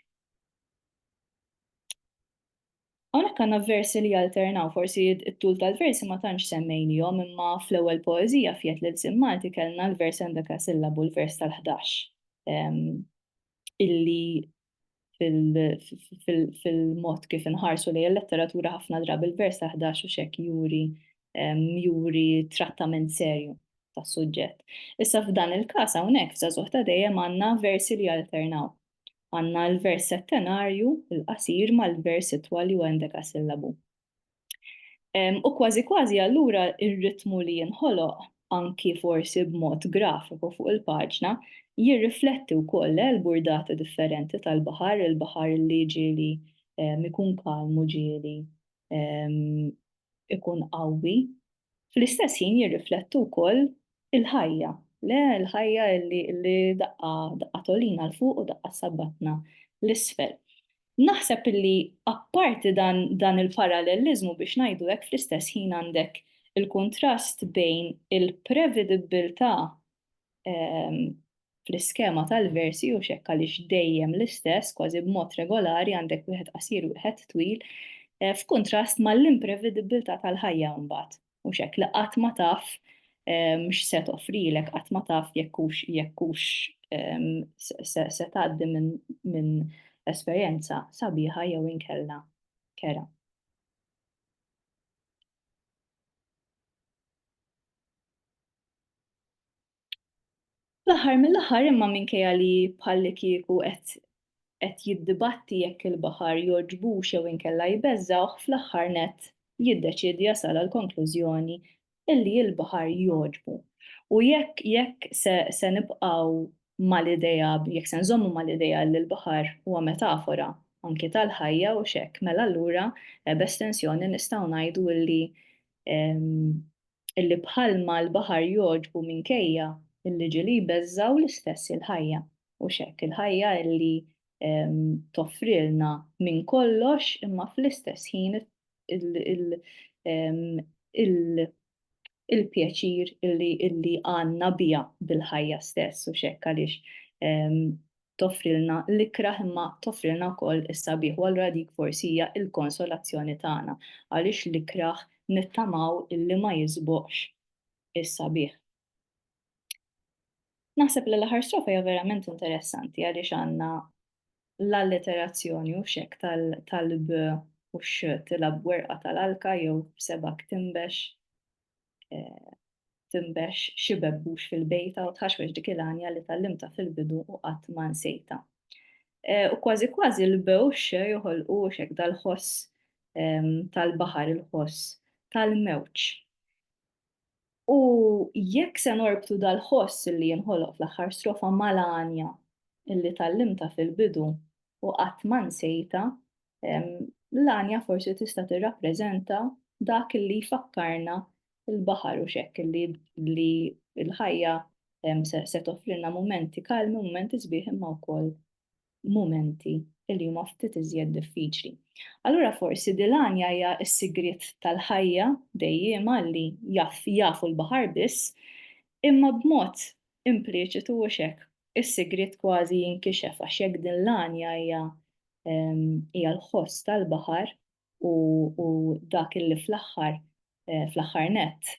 Hawnhekk għandna versi li jalternaw, forsi t-tul tal-versi ma tantx semmejnihom imma fl-ewwel poeżija f'Jed l-Ilsien Malti kellna l-vers Endeka Sillabu l-vers tal-ħdax ehm, illi fil-mod kif inħarsu lejn il-letteratura ħafna drabi il-vers taħdax u xek juri juri trattament serju tas-suġġett. Issa f'dan il-każ hawnhekk f'żagħżugħ ta' dejjem għandna versi li alternaw. Għandna l-vers settenarju, il-qasir mal-vers itwal li huwa sillabu. U kważi kważi allura ir-ritmu li jinħoloq anki forsi b'mod grafiku fuq il-paġna jirrifletti wkoll l-burdata differenti tal-baħar, il-baħar li ġieli ikun kalmu ġieli ikun qawwi Fl-istess ħin jirriflettu wkoll il-ħajja, le, il-ħajja li li daqqa daqqa tgħollina 'l fuq u daqqa ssabbatna 'l isfel. Naħseb li apparti dan dan il-paralleliżmu biex ngħidu hekk fl-istess ħin għandek il-kuntrast bejn il-prevedibbiltà fl-iskema tal-versi u xekk għaliex dejjem l-istess, kważi b'mod regolari għandek wieħed qasir wieħed twil, eh, f'kuntrast mal-imprevedibbiltà tal-ħajja mbagħad. U xekk li qatt ma taf ehm, x'se toffrilek, qatt ma taf jekk hux jekk hux ehm, se tgħaddi minn esperjenza sabiħa jew inkella kera. Fl-aħħar mill-aħħar imma minkejja li bħallikieku qed qed jiddibatti jekk il-baħar jogħġbux jew inkella jbeżżgħuh fl-aħħar nett jiddeċiedi jasal għall-konklużjoni illi l-baħar jogħġbu. U jekk jekk se se nibqgħu mal-idea, jekk se nżommu mal-idea li l-baħar huwa metafora anki tal-ħajja u x'hekk, mela allura b'estensjoni nistgħu ngħidu li illi bħalma l-baħar jogħġbu minkejja illi ġieli jbeżżgħu l-istess il-ħajja u x'hekk, il-ħajja illi toffrilna minn kollox imma fl-istess ħin il-pjaċir illi illi għandna biha bil-ħajja stess u x'hekk għaliex toffrilna l-ikrah imma toffrilna wkoll is-sabiħ u allura dik forsi hija l-konsolazzjoni tagħna għaliex l-ikrah nittamaw illi ma jisboqx is-sabiħ. Naħseb li l-aħħar strofa hija verament interessanti għaliex għandna L-alliterazzjoni u xekk tal-'b' u x' tilgħab b'werqa tal-alka jew b'sebgħek tinbex tinbex xi bebbux fil-bejta u tħaxwex dik il-għanja li tgħallimtha fil-bidu u qatt ma nsejtha. U kważi kważi l-'b' u x' joħolqu u xekk dal-ħoss tal-baħar, il-ħoss tal-mewġ. U jekk se norbtu dal-ħoss li jinħoloq fl-aħħar strofa mal-għanja li tgħallimtha fil-bidu u qatt ma nsejtha, l-għanja forsi tista' tirrappreżenta dak li jfakkarna l-baħar u x'hekk li l-ħajja se toffrilna mumenti kalmi, mumenti sbieħ imma wkoll mumenti li huma ftit iżjed diffiċli. Allura forsi dil-għanja hija s-sigriet tal-ħajja dejjiema li jaf jafu l-baħar biss, imma b'mod impliċitu hux hekk, is-sigriet kważi jinkixef għax jekk din l-għanja hija hija l-ħoss tal-baħar, u dak illi fl-aħħar fl-aħħar nett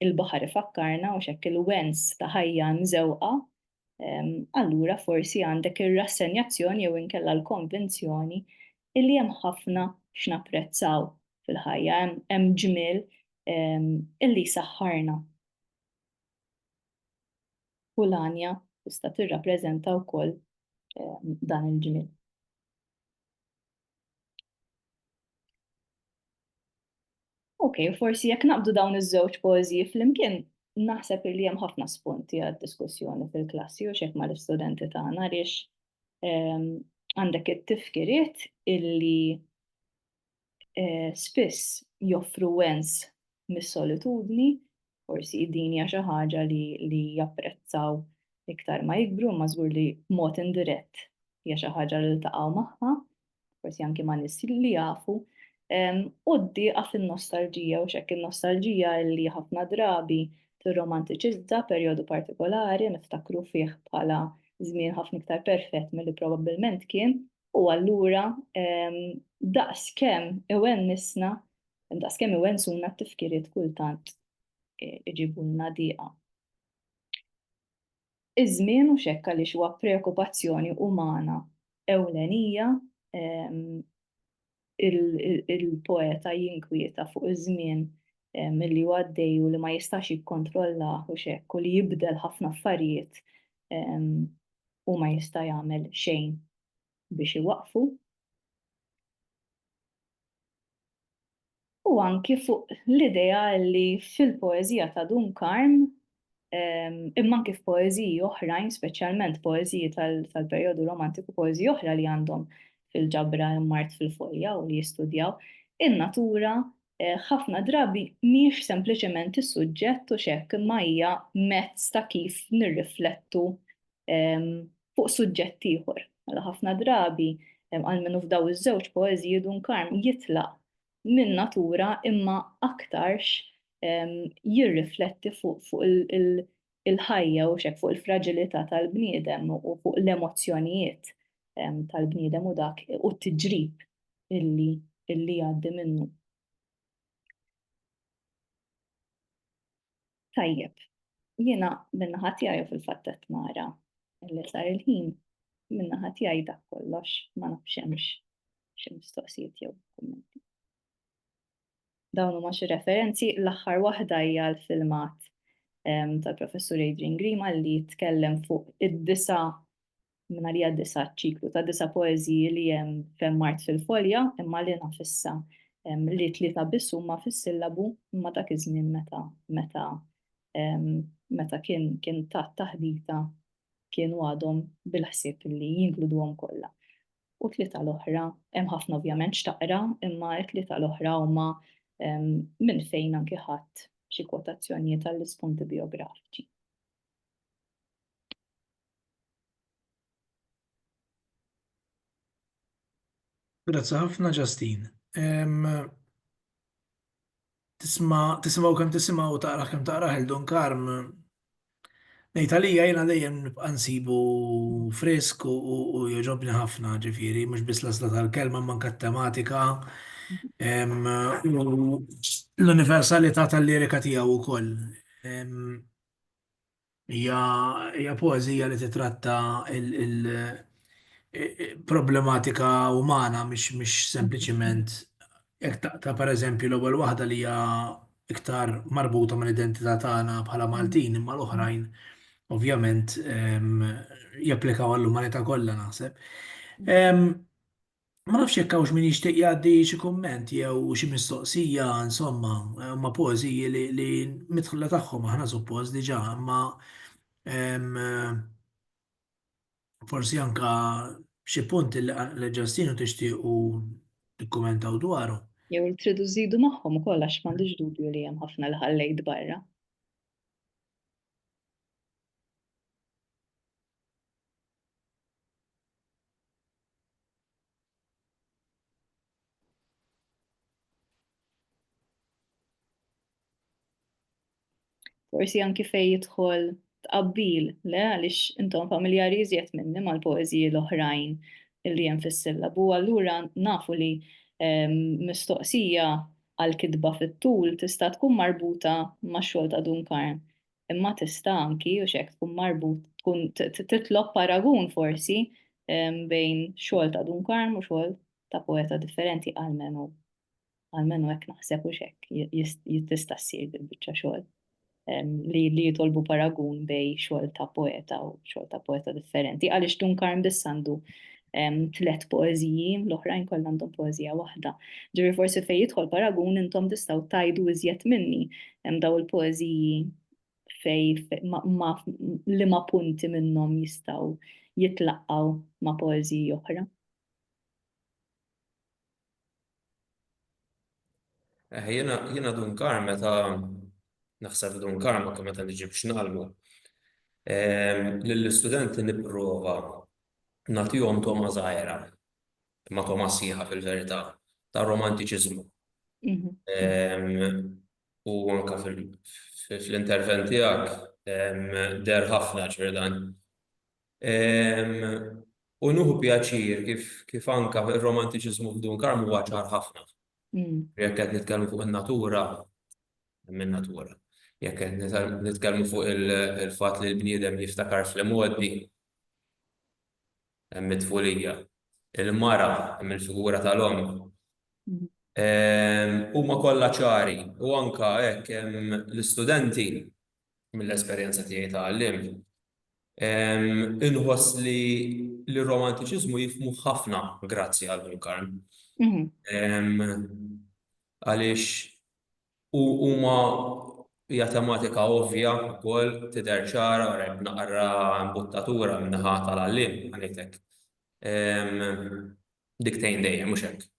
il-baħar ifakkarna u x'hekk il-wens ta' ħajja mżewqa, allura forsi għandek ir-rassenjazzjoni jew inkella l-konvinzjoni illi hemm ħafna x'napprezzaw fil-ħajja, hemm ġmiel illi jsaħħarna. U l-għanja tista' tirrappreżenta wkoll dan il-ġmiel. Ok, forsi jekk naqbdu dawn iż-żewġ poeżiji flimkien, naħseb li hemm ħafna spunti għad diskussjoni fil-klassi u xek mal-istudenti tagħna għaliex ehm, għandek it-tifkiriet illi eh, spiss joffru wens mis-solitudni, forsi din hija xi ħaġa li, li japprezzaw iktar ma jikbru, ma żgur li mod indirett hija xi ħaġa li ltaqgħu magħha, forsi anki ma' nies li jafu. U d għaf in-nostalġija u xekk in-nostalġija li ħafna drabi tirromantiċizza perjodu partikolari niftakru fih bħala żmien ħafna iktar perfett milli probabbilment kien, U allura daqskemm iwennisna, daqskemm iwensuna t-tifkiriet kultant iġibulna diqa. Iż-żmien u xekk għaliex huwa preokkupazzjoni umana ewlenija il-poeta jinkwieta fuq iż-żmien milli huwa għaddej u li ma jistax jikkontrolla u xekk u li jibdel ħafna affarijiet u ma jista' jagħmel xejn biex iwaqfu. u anki fuq l-idea li fil-poeżija ta' Dun Karm, imma anki f'poeżiji oħrajn, speċjalment poeżiji tal-perjodu Romantiku u poeżiji oħra li għandhom fil-ġabra hemm mard fil-fojja u li jistudjaw, in-natura ħafna drabi mhijiex sempliċement is-suġġett u x'hekk imma hija mezz ta' kif nirriflettu fuq suġġett ieħor. Mela ħafna drabi, almenu f'dawn iż-żewġ poeżiji, Dun Karm jitlaq minn natura imma aktarx jirrifletti fuq il-ħajja u xek fuq il-fraġilità tal-bniedem u fuq l-emozzjonijiet tal-bniedem u dak u t-tiġrib illi jgħaddi minnu. Tajjeb, jiena min-naħa tiegħi u fil-fatt qed nara li sar il-ħin min-naħa tiegħi dak kollox ma nafx hemmx xi mistoqsijiet jew kummenti. Dawn huma xi referenzi, l-aħħar waħda hija l-filmat ehm, tal-Professur Adrian Grima li jitkellem fuq id-disa minn għalija disa' ċiklu ta' disa' poeżiji li hemm f'Hemm Art fil-Folja imma li naf issa li tlieta biss huma fis-sillabu imma dak iż-żmien meta meta meta kien kien tat taħdita kienu għadhom bil-ħsieb li jinkluduhom kollha. U tlieta l-oħra hemm ħafna ovvjament x'taqra imma t-tlieta l-oħra huma minn fejn anki ħadd xi kwotazzjonijiet għall-ispunti biografiċi. Grazzi ħafna Ġastin. Tisma' tisimgħu kemm tisimgħu u taqra kemm taqra ħel Don Karm. Ngħid għalija jiena dejjem nibqa' nsibu frisk u jogħġobni ħafna ġifieri mhux biss l-għażla tal-kelma manka t-tematika l-universalità tal-lirika tiegħu wkoll. Hija poeżija li titratta l-problematika umana mhix sempliċiment jekk taqta' pereżempju l-ewwel waħda li hija iktar marbuta mal-identità tagħna bħala Maltin imma l-oħrajn ovvjament japplikaw għall-umanità kollha naħseb. Ma nafx jekk hawnx min jixtieq jgħaddi xi kumment jew xi mistoqsija, insomma, huma poeżiji li, li midħla tagħhom aħna suppost diġà, imma em, forsi anka xi punt li li ġastinu tixtiequ tikkumentaw dwaru. Jew li tridu żidu magħhom ukoll għax m'għandix dubju li hemm ħafna li ħallejt barra. Forsi anki fej jidħol tqabbil, le għaliex intom familjari iżjed minni mal-poeżiji l-oħrajn li hemm fis-sillabu, allura nafu li mistoqsija għal kitba fit-tul tista' tkun marbuta max-xogħol ta' Dunkarn. imma tista' anki u x'hekk tkun marbut tkun titlob paragun forsi bejn xogħol ta' Dun Karm u xogħol ta' poeta differenti għalmenu għalmenu hekk naħseb u x'hekk jista' ssir bil-biċċa xogħol li li jitolbu paragun bej xogħol ta' poeta u xogħol ta' poeta differenti għaliex Dun Karm biss għandu tliet poeżiji, l-oħrajn kollha għandhom poeżija waħda. Ġifieri forsi fejn jidħol paragun intom tistgħu tgħidu iżjed minni hemm daw il-poeżiji fej li ma punti minnhom jistgħu jitlaqgħu ma' poeżiji oħra. Eh, jena, jena dun kar meta naħseb dun kar ma meta niġi biex nalmu. Lill-istudenti nipprova natijom toma zaħira, ma toma siħa fil-verità, ta' romantiċizmu. Mhm. U anka fil-intervent tijak, der ħafna ġverdan. U nuhu pjaċir kif anka r-romantiċiżmu f'Dun Karm huwa ċar ħafna. Jekk qed nitkellmu fuq in-natura, hemm in-natura. Jekk qed nitkellmu fuq il-fatt li l-bniedem jiftakar fl-imgħoddi, hemm it-tfulija. Il-mara, hemm il-figura tal-omm. Huma kollha ċari u anka hekk hemm l-istudenti mill-esperjenza tiegħi ta' għalliem, inħoss li r-romantiċiżmu jifhmu ħafna grazzi għal Ħu l-Karm. Għaliex huma hija tematika ovvja wkoll tidher ċara wara jekk naqra mbuttatura min-naħa tal-għalliem, ħa ngħidlek. Dik tgħin dejjem mhux hekk?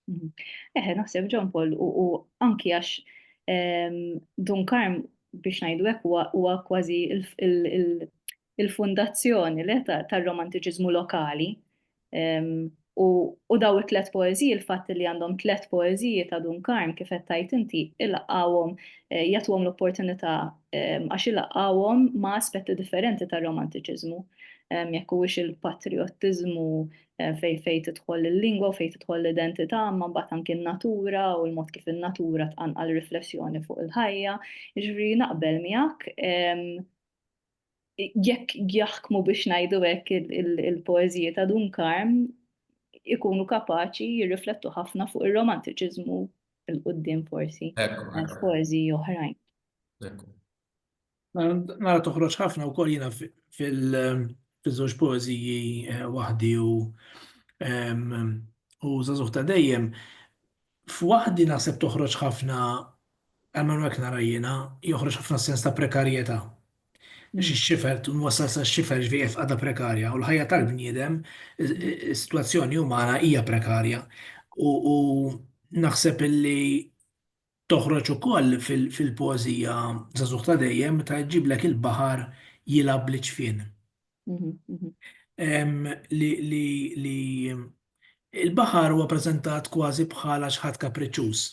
Eħe, naħseb John Paul u anki għax ehm, Dun Karm biex ngħidu hekk huwa kważi il-fundazzjoni le tar-romantiċiżmu lokali. Ehm, u daw it-tlet poeziji, il-fatt li għandhom tlet poeziji ta' Dun Karm kif qed tajt inti, ilaqgħuhom eh, jagħtuhom l-opportunità ehm, għax ilaqgħuhom ma' aspetti differenti tar-romantiċiżmu. Ehm, jekk huwiex il-patriottiżmu fejn fejn tidħol il-lingwa u fejn tidħol l-identità, imma mbagħad anki n-natura u l-mod kif in-natura tqanqal riflessjoni fuq il-ħajja. Jiġri naqbel miegħek jekk jaħkmu biex ngħidu hekk il-poeżiji ta' Dun Karm ikunu kapaċi jirriflettu ħafna fuq ir-romantiċiżmu il-qudiem forsi, poeżiji oħrajn. Nara toħroġ ħafna wkoll jiena fil-żewġ poeżiji eh, waħdi u u żagħżugħ ta' dejjem. F'waħdi naħseb toħroġ ħafna għamlu hekk nara jiena joħroġ ħafna sens ta' prekarjetà. Biex ix-xifer twassal sa xifer ġvieqef għadha prekarja u l-ħajja tal-bniedem is-sitwazzjoni umana hija prekarja. U naħseb illi Toħroġ ukoll fil-poeżija Żagħżugħ ta' dejjem meta jġiblek il-baħar jilgħab bl-iċfien. Li il-baħar huwa preżentat kważi bħala xi ħadd kapriċċuż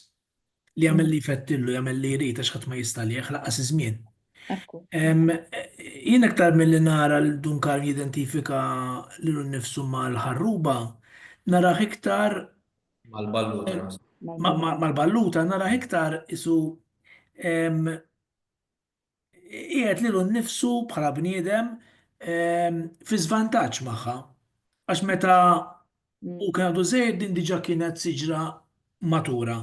li jagħmel li jfettillu, jagħmel li jrid għax ħadd ma jista' lih lanqas iż-żmien. Jien aktar milli nara lil Dun Karm jidentifika lilu nnifsu mal-ħarruba, narah iktar Mal-balluta. Mal-balluta nara iktar isu qiegħed lilu nnifsu bħala bniedem fi żvantaġġ magħha. Għax meta u kien għadu żejjed din diġà kienet siġra matura.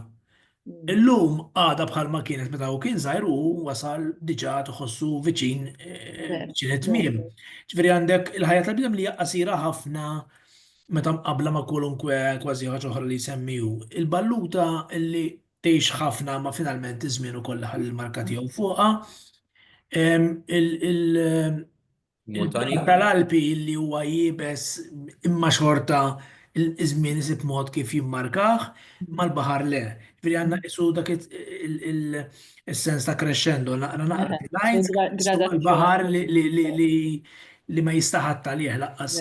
Illum għada bħal ma kienet meta u kien zaħir u wasal diġa tħossu viċin eh, viċin it-tmiem. Ġifieri għandek il-ħajja tal-bidem li hija qasira ħafna meta mqabla ma' kwalunkwe kważi ħaġa oħra li jsemmiju. Il-balluta li tgħix ħafna ma finalment iż-żmien ukoll ħall marka tiegħu fuqha. Il- Il-belt tal-Alpi li huwa iebes imma xorta iż-żmien isib mod kif jimmarkah, imma l-baħar le. Ġifieri għandna nqisu dak is-sens ta' crescendo, naqra naqra l-għajn tqissu l-baħar li ma jistaħadd għalih lanqas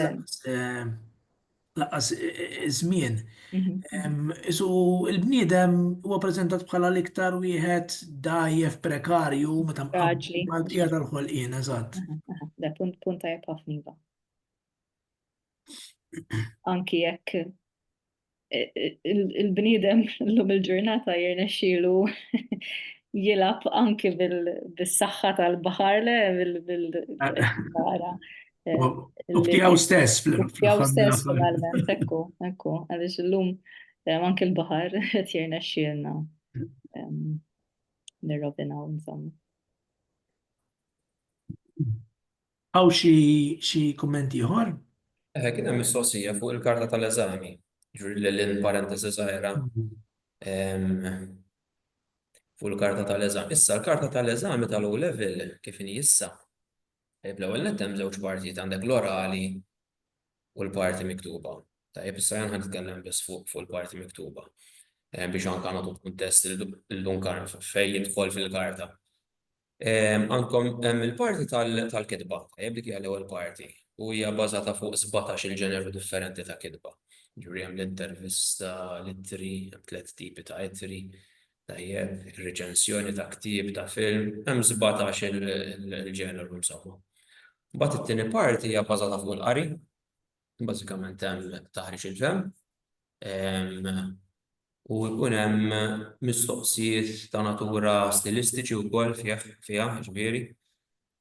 lanqas iż-żmien. Isu l-bniedem huwa preżentat bħala l-iktar wieħed dgħajjef prekarju meta mqabbel mal-bqija tal-ħolqien, eżatt. Da punt punt tajjeb ħafna iva. Anki jekk il-bniedem llum il-ġurnata jirnexxielu jilab anki bil-saxħa tal-bahar le bil-bahara. U b'tiegħu stess fl-aħħar. stess finalment, ekku, ekku, għaliex illum eh, anke l-baħar qed jirna xielna nirrobinaw insomma. Għaw xi kummenti ieħor? Eh, kien hemm mistoqsija fuq il-karta tal-eżami, ġuri l-lin parentesi żgħira. Mm-hmm. Fuq il-karta tal-eżami. Issa l-karta tal-eżami tal-O level kif inhi issa Tajjeb l-ewwel nett hemm żewġ partijiet għandek l-orali u l-parti miktuba. Tajjeb issa jien ħanitkellem biss fuq fuq il-parti miktuba eh, biex anka nagħtu kuntest illum karf fejn jidħol fil-karta. Ehm, għandkom hemm il-parti tal-kitba, tajjeb dik hija l-ewwel parti u hija bażata fuq 17 il-ġeneru differenti ta' kitba. Ġuri hemm l-intervista, l-ittri, hemm tliet tipi ta' ittri, Tajjeb, ir-riċensjoni ta' ktieb, ta' film, hemm sbatax il-ġeneru insomma. Mbagħad it-tieni parti hija bbażata fuq il-qari, bażikament hemm taħriġ il-fehm, u jkun hemm mistoqsijiet ta' natura stilistiċi wkoll fih, fiha, jiġifieri.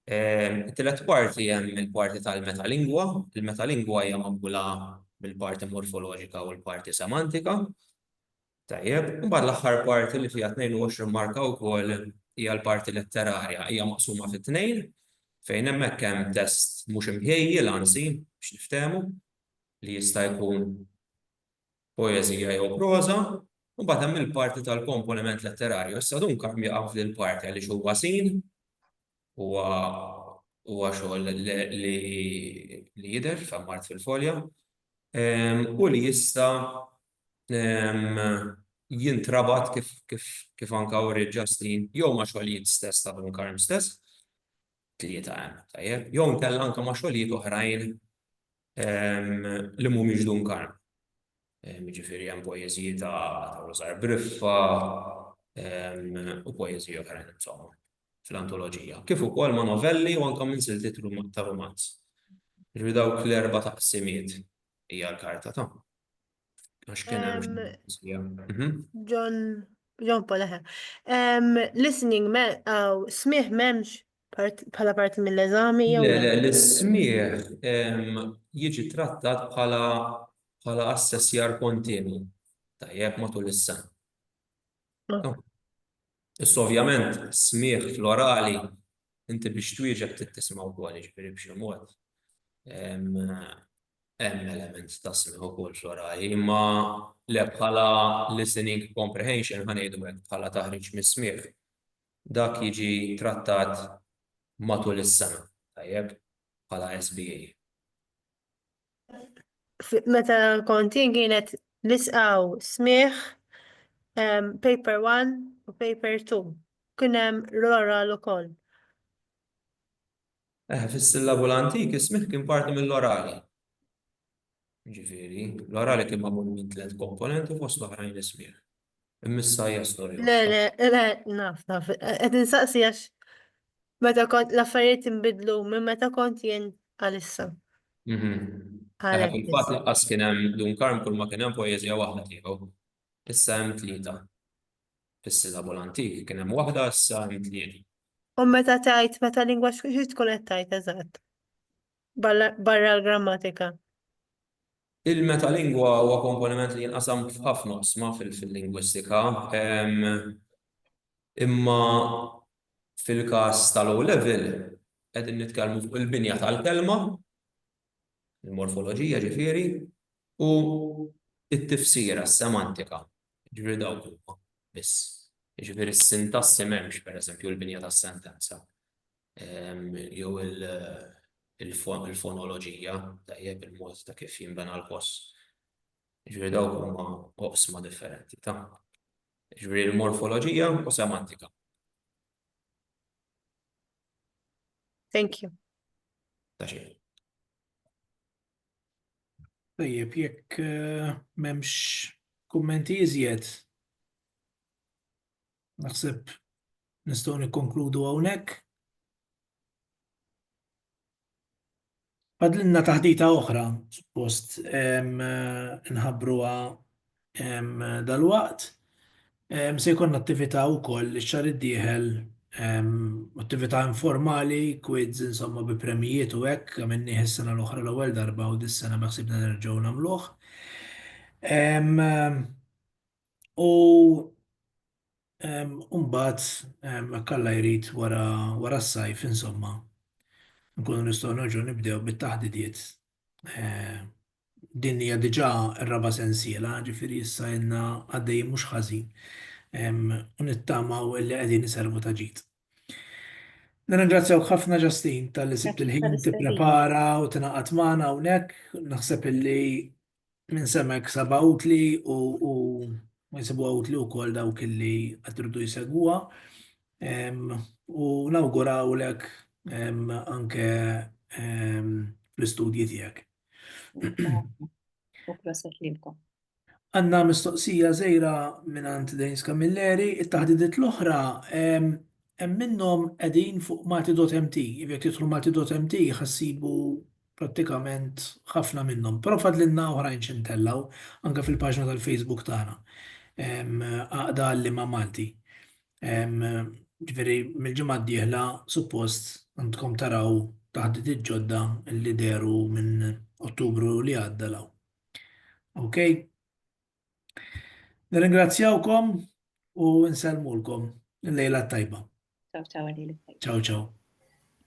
It-tielet parti hemm il-parti tal-metalingwa, il-metalingwa hija magħmula mill-parti morfoloġika u l-parti semantika, Tajjeb, imbagħad l-aħħar parti li fiha 22 marka wkoll hija l-parti letterarja, hija maqsuma fi tnejn, fejn hemmhekk hemm test mhux imħejjel anzi, biex niftehmu, li jista' jkun poeżija jew proża, u mbagħad hemm il-parti tal-komponiment letterarju. Issa dun kemm jaqa' f'din il-parti għaliex huwa sin, huwa huwa xogħol li jidher f'hemm art fil-folja, u li jista' jintrabat kif anka wriet Justin jew ma' xogħlijiet stess ta' Von Karm stess, tlieta hemm, tajjeb, jew inkella anka ma' xogħlijiet oħrajn li mhumiex Dun Karm. Jiġifieri hemm poeżiji ta' Rożar Briffa u poeżiji oħrajn insomma fl-antoloġija. Kif ukoll ma' novelli u anka minn siltiet ta' rumanz. Jiġifieri dawk l-erba' taqsimiet hija l-karta ta' Għax kien hemm mhm. John John Paul eħe. Listening aw smieħ m'hemmx bħala parti mill-eżami jew. Le, le, l-smieħ jiġi trattat bħala bħala assessjar kontinwi tajjeb matul is-sena. Ah. Oh. Issa ovvjament smieħ florali inti biex twieġeb tittisma' wkoll jiġifieri b'xi mod. hemm element ta' smigħ u kulturali, imma le bħala listening comprehension ħa ngħidu hekk bħala taħriġ mis-smigħ. Dak jiġi trattat matul is-sena, tajjeb, bħala SBA. Meta kont jien kienet nisqaw smigħ paper 1 u paper 2. Kien hemm l-oral ukoll. Fis-sillabu l-antik is-smigħ kien parti mill-orali. Jiġifieri, l-orali kien magħmul minn tliet komponenti fost l-oħrajn is-smigħ. Imma issa hija storja. Le, le, le, naf, naf. Qed insaqsi għax meta kont l-affarijiet inbidlu minn meta kont jien għal issa. Fil-fatt lanqas kien hemm Dun Karm kulma kien hemm poeżija waħda tiegħu. Issa hemm tlieta. Fis-silabu l-antik kien hemm waħda issa hemm tliet. U meta tgħid meta lingwaġġ xi tkun qed tgħid eżatt? Barra l-grammatika. Il-metalingwa huwa komponiment li jinqasam f'ħafna oqsma fil-lingwistika. Imma fil-każ tal-O Level qegħdin nitkellmu fuq il-binja tal-kelma il-morfoloġija ġifieri, u t-tifsira, s-semantika, jiġifieri dawk huma biss. Jiġifieri s-sintassi m'hemmx, pereżempju, il-binja tas-sentenza jew il-fonoloġija, tajjeb, il-mod ta' kif jinbena l-ħoss. Jiġifieri dawk huma oqsma differenti ta'. Jiġifieri l-morfoloġija u semantika. Thank you. Tajjeb, jekk eh, memx kummenti iżjed, naħseb nistgħu nikkonkludu hawnhekk. Fadlilna taħdita oħra, suppost inħabbruha dalwaqt. Se jkollna attività wkoll ix-xahar id-dieħel, attività informali, kwiz insomma bi premjijiet u hekk, għamilnieh is-sena l-oħra l-ewwel darba u dis-sena beħsiebna nerġgħu nagħmluh. U mbagħad jekk Alla jrid wara s-sajf insomma nkunu nistgħu nerġgħu nibdew bit-taħdidiet. Din hija diġà r-raba' sensiela, ġifieri issa ilna għaddejjin mhux ħażin u nittamaw li qegħdin iservu ta' ġid. Nirringrazzjawk ħafna Justine talli sibt il-ħin tipprepara u tingħaqad magħna hawnhekk. Naħseb illi minn semek saba utli u jisibu utli u kol dawk li għatridu jisegwa u nawguraw lek anke l-istudji tijak. U proset lilkom. Għanna mistoqsija zejra minn għand Dejns Kamilleri, it-taħdidiet l-oħra hemm minnhom qegħdin fuq Malti.mt, jekk tidħlu Malti.mt ħassibu prattikament ħafna minnhom, però fadlilna oħrajn xi ntellgħu, anke fil-paġna tal-Facebook tagħna, Għaqda Għalliema Malti. Ġifieri mill-ġimgħa d-dieħla suppost għandkom taraw taħditiet ġodda li dehru minn Ottubru li għadda 'l hawn. Okej? Nirringrazzjawkom u nsellmulkom il-lejla t-tajba. Ciao ciao għalilek. Ciao ciao.